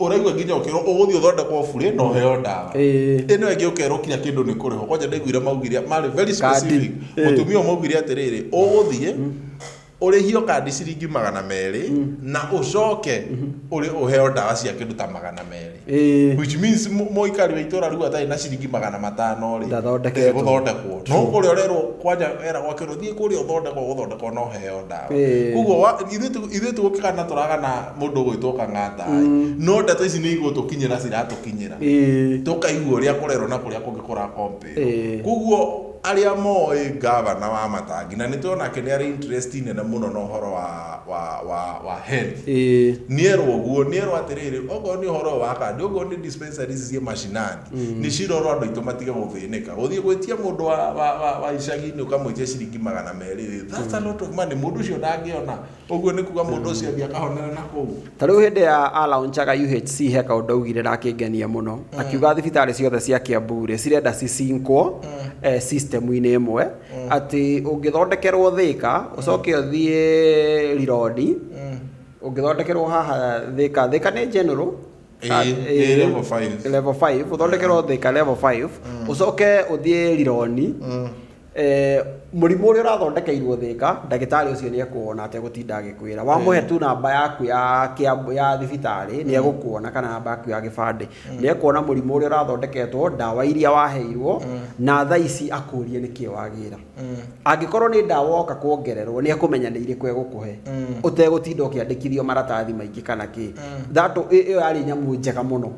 ũraigua nginya ũkĩrwo ũgũthiĩ ũthondekwo burĩ na ũheo ndawa Ĩĩ. ĩno ĩngĩ ũkerwo kinya kĩndũ nĩ kũrĩho kwanja ndaiguire maugire marĩ very specific Ĩĩ. mũtumia ũyũ maugire atĩrĩrĩ ũgũthiĩ ũrĩhio kandi ciringi magana merĩ na ũcoke ũrĩ ũheo ndawa cia kĩndũ ta magana merĩ Ĩĩ. which means mũ- mũikari wa itũra rĩu atarĩ na ciringi magana matano rĩ Ndathondeketwo. ndegũthondekwo no kũrĩa ũrerwo kwanja era gwakĩrwo thiĩ kũrĩa ũthondekwo gũthondekwo no heo ndawa Ĩĩ. koguo wa- ithuĩ tu- ithuĩ tũgũkĩgana tũragana mũndũ ũgwĩtwo kang'andaĩ no ndeto ici nĩ igũtũkinyĩra ciratũkinyĩra Ĩĩ. tũkaigua ũrĩa kũrerwo na kũrĩa kũngĩ kũrakompe Ĩĩ. koguo arĩa moĩ ngavana wa matangi na nĩ tũĩ onake nĩ arĩ interest nene mũno na ũhoro wa, wa, wa, wa health Ĩĩ. nierwo guo nierwo atĩrĩrĩ okorwo nĩ ũhoro ũyũ wa kandi okorwo nĩ dispensary ici ciĩ mashinani nĩ cirorwo andũ aitũ matige gũthĩnĩka gũthiĩ gwĩtia mũndũ wa, wa, wa, wa icagi-inĩ ũkamwĩtia ciringi magana merĩ rĩ that's a lot of money mũndũ ũcio ndangĩona Ũguo nĩ kuga mũndũ ũcio athiĩ akahonera na kũu. Ta rĩu hĩndĩ ya alaunchaga UHC he kaũndũ augire na akĩngenia mũno akiuga thibitarĩ ciothe cia Kiambu rĩ cirenda cicinkwo eh, system-inĩ ĩmwe atĩ ũngĩthondekerwo Thĩka ũcoke ũthiĩ Rironi ũngĩthondekerwo haha Thĩka Thĩka nĩ general Ĩĩ, Ah, ĩĩ, ĩĩ, level five. level 5 ũthondekerwo Thĩka level 5 ũcoke ũthiĩ Rironi Eh, mũrimũ ũrĩa ũrathondekeirwo thĩka ndagĩtarĩ ũcio nĩ ekuona ategũtinda agĩkwĩra wamũhe tu namba yaku ya kĩa- ya thibitarĩ nĩ egũkuona kana namba yaku ya gĩbandĩ nĩ ekuona mũrimũ ũrĩa ũrathondeketwo ndawa iria waheirwo na tha ici akũrie nĩkĩ wagĩra angĩkorwo nĩ ndawa woka kuongererwo nĩ ekũmenya nĩ irĩkũ egũkũhe ũtegũtinda ũkĩandĩkithio maratathi maingĩ kana kĩ thatũ ĩyo yarĩ nyamũ njega mũno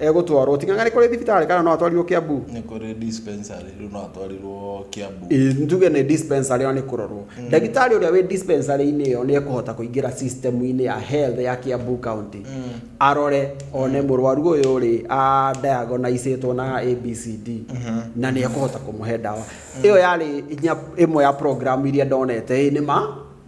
egũtwarwo tigana nĩ kũrĩ thibitarĩ kana no atwarirwo Kiambu nĩ kũrĩ dispensary rĩu no atwarirwo Kiambu Ĩ, njuge nĩ dispensary ĩyo nĩ kũrorwo ndagĩtarĩ ũrĩa wĩ dispensary-inĩ ĩyo nĩ ekũhota kũingĩra system-inĩ ya health ya Kiambu county arore one mũrwaru ũyũ rĩ a diagonaicĩtwo na ABCD na nĩ ekũhota kũmũhe ndawa ĩyo yarĩ inya ĩmwe ya program iria ndonete ĩ nĩ ma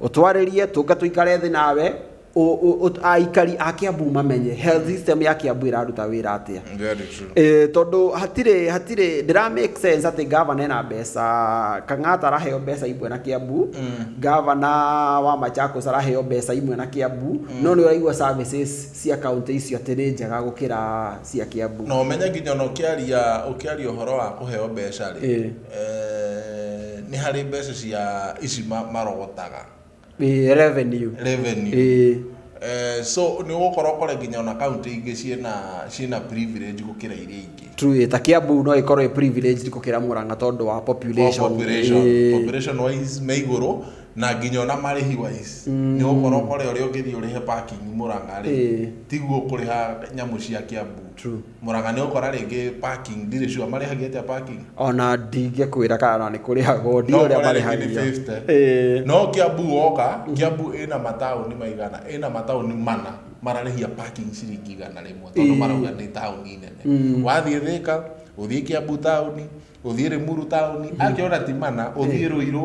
Ũtwarĩrie tũnga tũikare thĩ nawe ũ- ũ- ũ- aikari a Kiambu mamenye health system ya Kiambu ĩraruta wĩra atĩa Very true. Eh, tondũ hatirĩ hatirĩ ndĩra make sense atĩ gavana ena mbeca kang'ata araheo mbeca imwe na kĩambu gavana wa machakos araheo mbeca imwe na kĩambu no nĩ ũraigua services cia kaunti icio atĩ nĩ njega gũkĩra cia kĩambu na ũmenye nginya ona ũkĩaria ũkĩaria ũhoro wa kũheo mbeca rĩ Eh. Nĩ harĩ mbeca cia ici marogotaga. Ĩĩ revenue. Revenue. Ĩĩ. So nĩ ũgũkora ũkore nginya ona kaũntĩ ingĩ ciĩna ciĩna privilege gũkĩra iria ingĩ. True, ta Kiambu no ĩkorwo ĩ privileged gũkĩra Murang'a tondũ wa population. Population. Population wise me igũrũ na nginya ona marĩhi wise. Nĩ ũgũkora ũkore ũrĩa ũngĩthiĩ ũrĩhe parking Murang'a rĩ, tiguo ũkũrĩha nyamũ cia Kiambu. True. Mũraga nĩ ũkora rĩngĩ parking ndirĩ sure marĩhagia atĩa parking ona ndingĩkwĩra kana nĩ kũrĩhagwo ndio no ũrĩa ũkore rĩngĩ nĩ marĩhagia 50 Ĩĩ. no Kiambu woka Kiambu ĩna mataũni maigana ĩna mataũni mana mararĩhia parking ciringi igana rĩmwe tondũ Ĩĩ. marauga nĩ taũni nene wathiĩ Thĩka ũthiĩ Kiambu taũni ũthiĩ Rĩmuru taũni angĩona ti mana ũthiĩ Rũirũ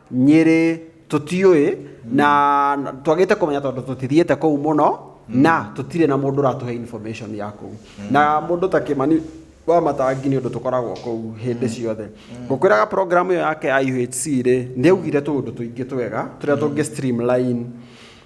nyĩrĩ tũtiũĩ na twagĩte kũmenya tondũ tũtithiĩte kũu mũno na tũtirĩ na mũndũ ũratũhe information ya kũu na mũndũ ta kĩmani wa matangi nĩ ũndũ tũkoragwo kũu hĩndĩ ciothe ngũkwĩraga program ĩyo yake ya UHC rĩ nĩ augire tũũndũ tũingĩ twega tũrĩa tũngĩ streamline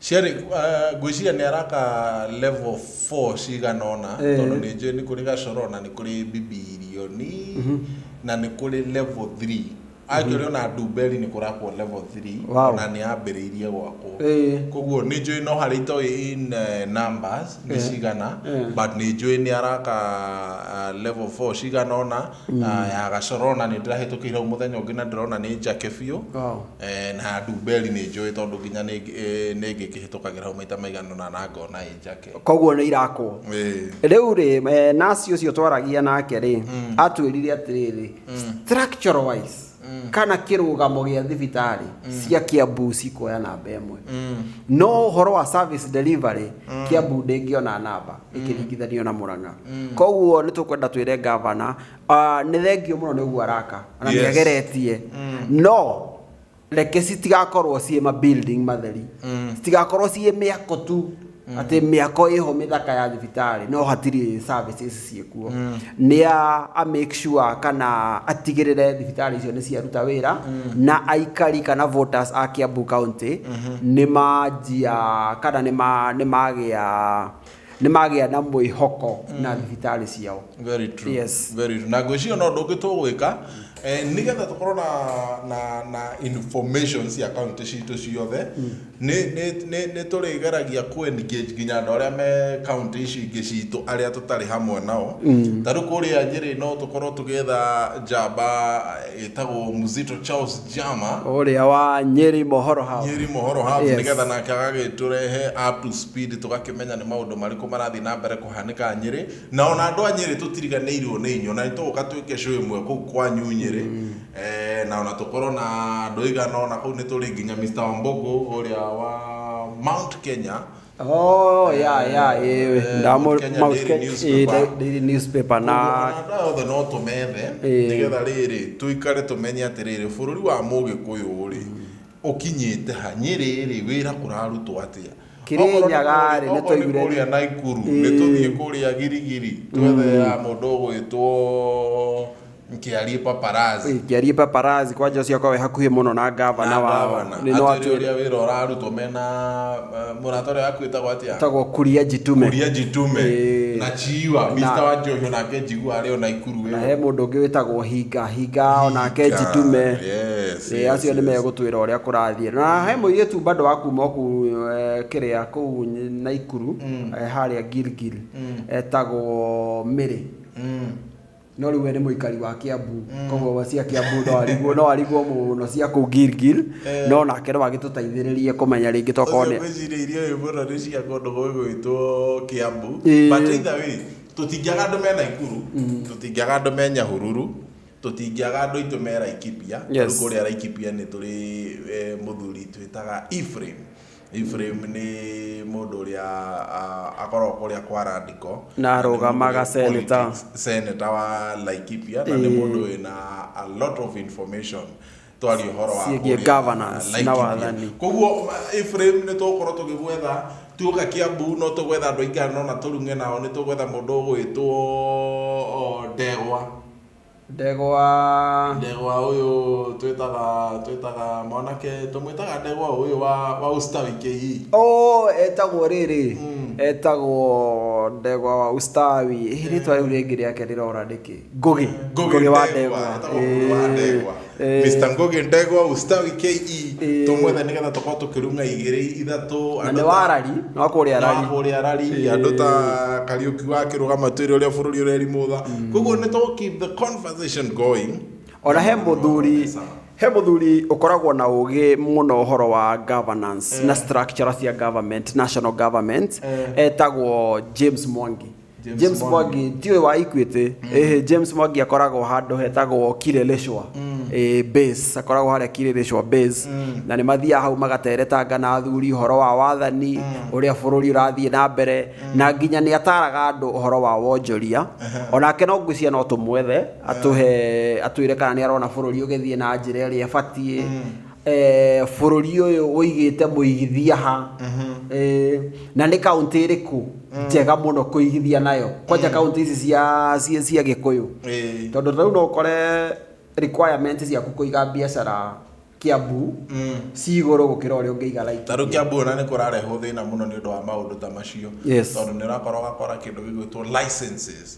Ciarĩ, uh, ngwĩciria nĩ araka level 4 cigana ũna Eh. tondũ nĩ njũĩ nĩ kũrĩ gacoro na nĩ kũrĩ bibirioni na nĩ kũrĩ level 3 anjũrĩ ona ndumberi nĩ kũrakwo level 3 Wow. na nĩ ambĩrĩirie gwakwo Eh. koguo nĩ njũĩ no harĩ itoĩ in eh, numbers nĩ Eh. cigana Eh. but nĩ njũĩ nĩ araka uh, level 4 cigana ũna uh, ya gacoro na nĩ ndĩrahĩtũkĩire hau mũthenya ũngĩ na ndĩrona nĩ njake biũ Wow. Eh, na ndumberi nĩ njũĩ tondũ nginya nĩ eh, nĩ ngĩkĩhĩtũkagĩra hau maita maigana ũna na ngona ĩ njake koguo nĩ irakwo Ĩĩ. rĩu rĩ eh, nasi ũcio twaragia nake rĩ atwĩrire atĩrĩrĩ structure wise kana kĩrũgamo gĩa thibitarĩ cia kĩambu cikuoya namba ĩmwe no ũhoro wa service delivery kĩambu ndĩngĩona namba ĩkĩringithanio na mũrang'a koguo nĩ tũkwenda twĩre gavana Ah, nĩ thengio mũno nĩ ũguo araka na nĩ Yes. ageretie no reke citigakorwo ciĩ ma building matheri citigakorwo ciĩ mĩako tu atĩ mĩako ĩho mĩthaka ya thibitarĩ no hatirĩ services ciĩkuo nĩ a a make sure kana atigĩrĩre thibitarĩ icio nĩ ciaruta wĩra na aikari kana voters a Kiambu County nĩ manjia kana nĩ ma- nĩ magĩa nä magä a na mwä hoko na thibitarä ciao Very true. Yes. Very true. na ngwĩciria no ũndũ ũngĩ tũgwĩka eh, nĩgetha tũkorwo na, na, na information cia kaunti citũ ciothe nĩ- nĩ- nĩ- nĩ tũrĩgeragia ku engage nginya andũ arĩa me kaunti ici ingĩ citũ arĩa tũtarĩ hamwe nao ta rĩu kũrĩa nyĩrĩ no tũkorwo tũgĩetha njamba ĩtagwo Muzito Charles Jama ũrĩa wa Nyeri Mohoro House. Nyeri Mohoro House Yes. nĩgetha nake agagĩtũrehe up to speed tũgakĩmenya nĩ maũndũ marĩkũ marathiĩ na mbere kũhanĩka Nyeri na ona andũ a Nyeri tũtiriganĩirwo nĩ inyuo na nĩtũgũka twĩke show ĩmwe kũu kwanyu Nyeri eh, na ona tũkorwo na andũ aigana ona kũu nĩtũrĩ nginya Mr. Wambogo ũrĩa wa Mount Kenya oh ya ya eh ndamo Kenya mau Daily sketch eh, Newspaper. da- daily newspaper na na othe no tũmethe Ĩĩ. nĩgetha rĩrĩ tũikare tũmenye atĩrĩrĩ bũrũri wa mũgĩkũyũ rĩ ũkinyĩte ha nyĩrĩ rĩ wĩra kũrarutwo atĩa Kĩrĩnyaga rĩ, nĩ tũigure- kũrĩa naikuru Ĩĩ. nĩ tũthiĩ kũrĩa girigiri twethe ya mũndũ ũgwĩtwo Nkiarie paparazzi. ingĩarie paparazzi kwanja ũcio akorwo e hakuhĩ mũno na ngavana Na wao ngavana. nĩ no Atwĩre atwĩre ũrĩa wĩra ũrarutwo mena eh, mũrata ũrĩa waku wĩtagwo atĩa tagwo kuria njitume kuria njitume Ĩĩ. na chiwa mista wa njohi onake njigua arĩ o naikuru na he ĩyo mũndũ ũngĩ wĩtagwo hinga hinga onake Hinga, njitume yes, Ĩĩ, yes, acio nĩ yes. megũtwĩra ũrĩa kũrathiĩ na he mũirĩtu bado wa kuma kuu eh, kĩrĩa kũu nyi- naikuru eh, harĩa gilgil etagwo mĩrĩ Mm. no rĩu we nĩ mũikari wa Kiambu mm. koguo cia Kiambu no arigwo no arigwo mũno cia kũ Gilgil eh. no nake no agĩtũteithĩrĩrie kũmenya rĩngĩ tokorwo nĩ ngwĩciria irio ũyũ mũno nĩ cia kũndũ gwĩgwĩtwo Kiambu eh. but either way tũtingĩaga andũ me Naikuru mm. tũtingĩaga andũ me Nyahururu tũtingĩaga andũ aitũ me Laikipia kũrĩa Laikipia nĩ tũrĩ eh, mũthuri twĩtaga Ephraim Efiraimu nĩ mũndũ ũrĩa akoragwo kũrĩa kwa Randiko na arũgamaga seneta seneta wa Laikipia na nĩ mũndũ wĩna a lot of information twari horo wa ciĩgiĩ governance na wathani koguo Ephraim nĩ tũgũkorwo tũgĩgwetha tuoka Kiambu no tũgwetha andũ aingĩ no na tũrunge nao nĩ tũgwetha mũndũ ũgwĩtwo Ndegwa ndegwa ndegwa uyu twitaga twitaga mwanake tumwitaga ndegwa uyu wa wa usta wiki hii oh etagwo rĩrĩ Mm. etagwo ndegwa wa ustawi hihi rĩtwa rĩu rĩngĩ rĩake rĩrora nĩkĩ ngũgĩ Ngũgĩ wa ndegwa, ndegwa etagwo ngũgĩ wa Eh, ndegwa. Eh, Mr. Ngoge ndegwa ustawi KE Eh. tumwethe nigetha tukorwo tukirunga igiri ithatu na nĩ warari nĩ wakũrĩa arari arari ũrĩa rari Eh. andũ ta kariuki wa kirugama twĩrĩ ũrĩa bũrũri ũrerimũtha koguo nĩ to keep the conversation going ona he mũthuri he mũthuri ũkoragwo na ũgĩ mũno ũhoro wa governance na structure cia government national government etagwo james mwangi James, James Mwangi. Mwangi ndiũĩ wa Equity eh James Mwangi akoragwo handũ hetagwo Kireleshwa eh base akoragwo harĩa Kireleshwa base na nĩ mathiaga hau magateretanga na athuri ũhoro wa wathani ũrĩa bũrũri ũrathiĩ na mbere na nginya nĩ ataraga andũ ũhoro wa wonjoria onake no ngwĩciria no tũmwethe atũhe atwĩre kana nĩ arona bũrũri ũgĩthiĩ na njĩra ĩrĩa ĩbatiĩ eh, bũrũri ũyũ ũigĩte mũigithia ha eh, na nĩ kaunti ĩrĩkũ njega mũno kũigithia nayo kwanja kaunti ici cia cia- cia gĩkũyũ Eh. tondũ rĩu no ũkore requirement ciaku kũiga biacara kiambu ci igũrũ gũkĩra ũrĩa ũngĩiga Laikipia. ta rĩu kĩambu ona nĩ kũrarehwo thĩna mũno nĩ ũndũ wa maũndũ ta macio Yes. tondũ nĩ ũrakora ũgakora kĩndũ gĩgwĩtwo licenses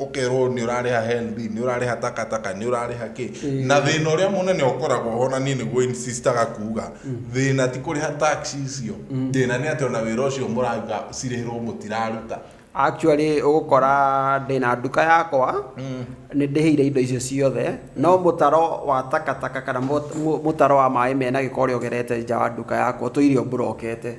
ũkerwo nĩ ũrarĩha HELB, nĩ ũrarĩha takataka, nĩ ũrarĩha kĩ. Na thĩna ũrĩa mũnene ũkoragwo ho na niĩ nĩguo insistaga kuga, thĩna ti kũrĩha tax icio, thĩna nĩ atĩ ona wĩra ũcio mũrauga cirĩhĩrwo mũtiraruta. Actually ũgũkora ndĩna nduka yakwa, nĩ ndĩhĩire indo icio ciothe, no mũtaro wa takataka kana mũtaro wa maĩ mena gĩko ũrĩa ũgerete nja wa nduka yakwa ũtũire ũmburokete.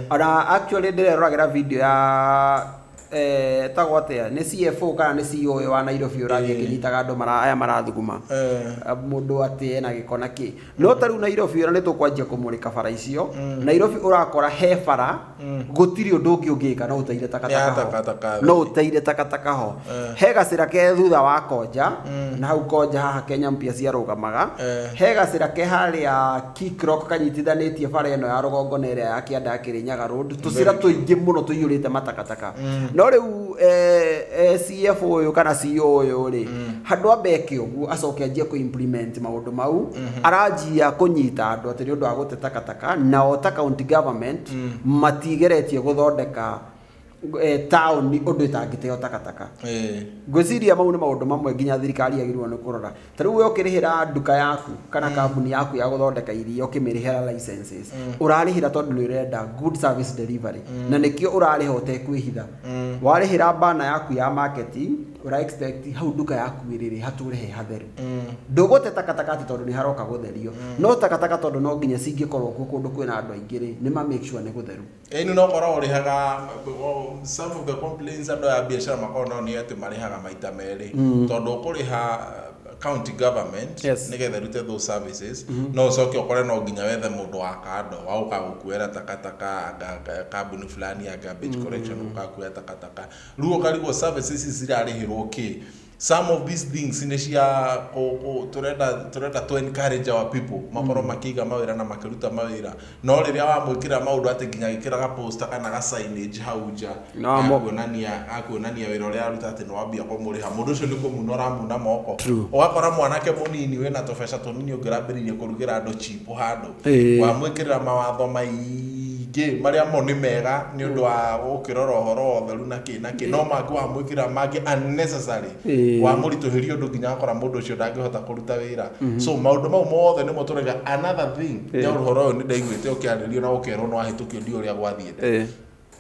Ona actually ndĩreroragĩra video ya eh, etagwo atĩa nĩ CFO kana nĩ CEO ũyũ wa Nairobi ũrathiĩ akĩnyitaga andũ mara- aya marathuguma Eh. Ah, mũndũ atĩ ena gĩko na kĩ no ta rĩu Nairobi ona nĩ tũkwanjia kũmũrĩka bara icio Nairobi ũrakora he bara gũtirĩ ũndũ ũngĩ ũngĩka no ũteire Ya takataka takataka. ho no ũteire takataka ho Eh. he gacĩra ke thutha wa konja na hau konja haha Kenya mpia ciarũgamaga Eh. he gacĩra ke harĩa Kik Rock kanyitithanĩtie bara ĩno ya rũgongo na ĩrĩa ya Kĩanda Kĩrĩnyaga Road, tũcĩra tũingĩ mũno tũiyũrĩte matakataka. No rĩu CF ũyũ kana CEO ũyũ rĩ, handũ ambe eke ũguo acoke anjie kũ implement maũndũ mau, aranjia kũnyita andũ atĩ nĩ ũndũ wa gũte takataka, nao ta county government matigeretie gũthondeka eh, taũni ũndũ ĩtangĩteo takataka Eh, ngwĩciria mau nĩ maũndũ mamwe nginya thirikari yagĩrĩirwo nĩ kũrora ta rĩu we ũkĩrĩhĩra nduka yaku kana kambuni yaku ya gũthondeka iria ũkĩmĩrĩhĩra licenses ũrarĩhĩra tondũ nĩ ũrenda good service delivery na nĩkĩo ũrarĩha ũtekwĩhitha warĩhĩra bana yaku ya marketing ũra expect hau nduka yaku ĩrĩrĩ hatũre he hatheru ndũgũte takataka atĩ tondũ nĩ haroka gũtherio no takataka tondũ no nginya cingĩkorwo kuo kũndũ kwĩna andũ aingĩ rĩ nĩ ma make sure nĩ gũtheru Yaani no korwo ũrĩhaga o, some of the complaints andũ aya a biacara makoragwo nao nĩ atĩ marĩhaga maita merĩ tondũ ũkũrĩha county government Yes. nĩgetha ĩrute those services no ũcoke ũkore no nginya wethe mũndũ wa kando wa gũka gũkuoera takataka anga ka- kambuni fulani ya garbage collection gũka kuoya takataka rĩu ũkarigwo services ici cirarĩhĩrwo kĩ some of these things nä cia kå- kå- tũrenda tũrenda to encourage our people makorwo makĩiga mawĩra na makĩruta mawĩra no rĩrĩa wamwĩkĩra maũndũ atĩ nginya agĩkĩra gaposta kana ga signage hau nja Na wamo- gakuonania gakuonania wĩra ũrĩa aruta atĩ nĩ wambia kũmũrĩha mũndũ ũcio nĩ kũmuna ũramuna moko True. ũgakora mwanake mũnini wĩna tũbeca tũnini ũngĩrambĩrĩirie kũrugĩra andũ chipo handũ Ĩĩ. wamwĩkĩrĩra mawatho maingĩ marĩa mo nĩ mega nĩ ũndũ wa gũkĩrora ũhoro wa ũtheru na kĩ na kĩ no mangĩ wamwĩkĩrĩra mangĩ unnecessary Ĩĩ. wamũritũhĩria ũndũ nginya akora mũndũ ũcio ndangĩhota kũruta wĩra so maũndũ mau mothe nĩmo tũrega another thing nĩ ũhoro ũyũ nĩ ndaiguĩte ũkĩarĩrio na ũkerwo nĩ wahĩtũkio ndiũĩ ũrĩa gwathiĩte Ĩĩ.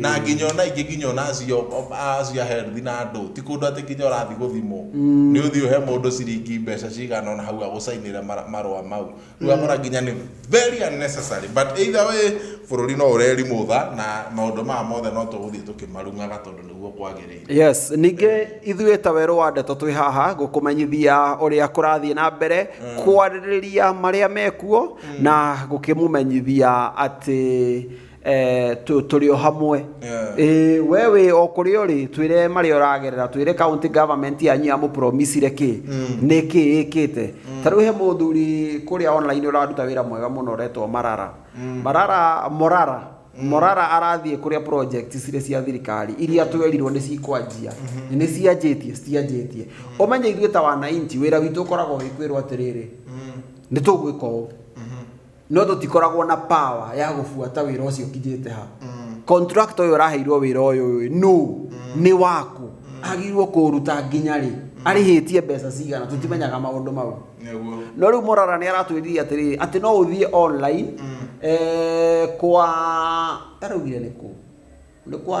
na nginya ona ingĩ nginya ona acio acio health na andũ ti kũndũ atĩ nginya ũrathi gũthimwo nĩ ũthiĩ ũhe mũndũ ciringi mbeca cigana ona hau agũcainĩre mara- marũa mau rĩu ũgakora nginya nĩ very unnecessary but either way bũrũri no ũrerimũtha na maũndũ maya mothe no tũgũthiĩ tũkĩmarung'aga tondũ nĩguo kwagĩrĩire yes ningĩ ithuĩ ta werũ wa ndeto twĩ haha gũkũmenyithia ũrĩa kũrathiĩ na mbere kwarĩrĩria marĩa mekuo na gũkĩmũmenyithia atĩ Eh, tu- tũrĩ o hamwe Yeah. Ĩĩ, we wĩ o kũrĩa ũrĩ twĩre marĩa ũragerera twĩre county government yanyu yamũpromisire kĩ nĩ kĩ ĩkĩte ta rĩu he mũthuri kũrĩa online ũraruta wĩra mwega mũno ũretwo marara marara morara morara arathiĩ kũrĩa project cirĩ cia thirikari iria twerirwo nĩ cikwanjia nĩ cianjĩtie citianjĩtie ũmenye ithuĩ ta wananchi wĩra witũ ũkoragwo wĩ kwĩrwo atĩrĩrĩ nĩ tũgwĩka ũũ no tũtikoragwo na power ya gũbuata wĩra ũcio ũkinyĩte ha contractor ũyũ ũraheirwo wĩra ũyũ ũyũ no nĩ waku agirwo kũruta nginya rĩ arĩhĩtie mbeca cigana tũtimenyaga maũndũ mau nĩguo no rĩu morara nĩ aratwĩrire atĩrĩrĩ atĩ no ũthiĩ online eh, kwa araugire nĩ kũ nĩ kwa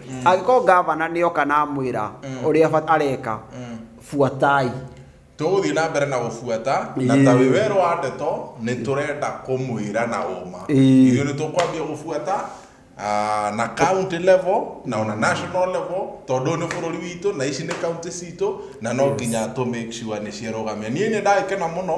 angĩkorwo ngavana nĩ oka na amwĩra ũrĩa abata- areka buatai tũgũthiĩ na mbere na gũbuata na ta wĩ wero wa ndeto nĩ tũrenda kũmwĩra na ũma Ĩĩ. ithuĩ nĩ tũkwambia gũbuata ah, na county level na ona national level tondũ ũyũ nĩ bũrũri witũ na ici nĩ county citũ na no nginya tũ make sure nĩ ciarũgamia niĩ nĩ ndagĩkena mũno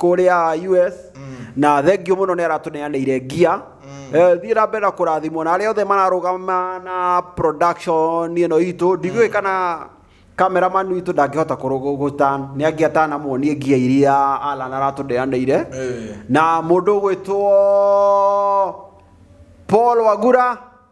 kũrĩa US na thengio mũno nĩ aratũneanĩire ngia Eh, thiĩ na mbere na kũrathimwo na arĩa othe mararũgama na production ĩno itũ ndigũĩ kana cameraman witũ ndangĩhota kũrũgũgũtan nĩ angĩatana muonie ngia iria Alan aratũneanĩire Eh. na mũndũ ũgwĩtwo Paul Wagura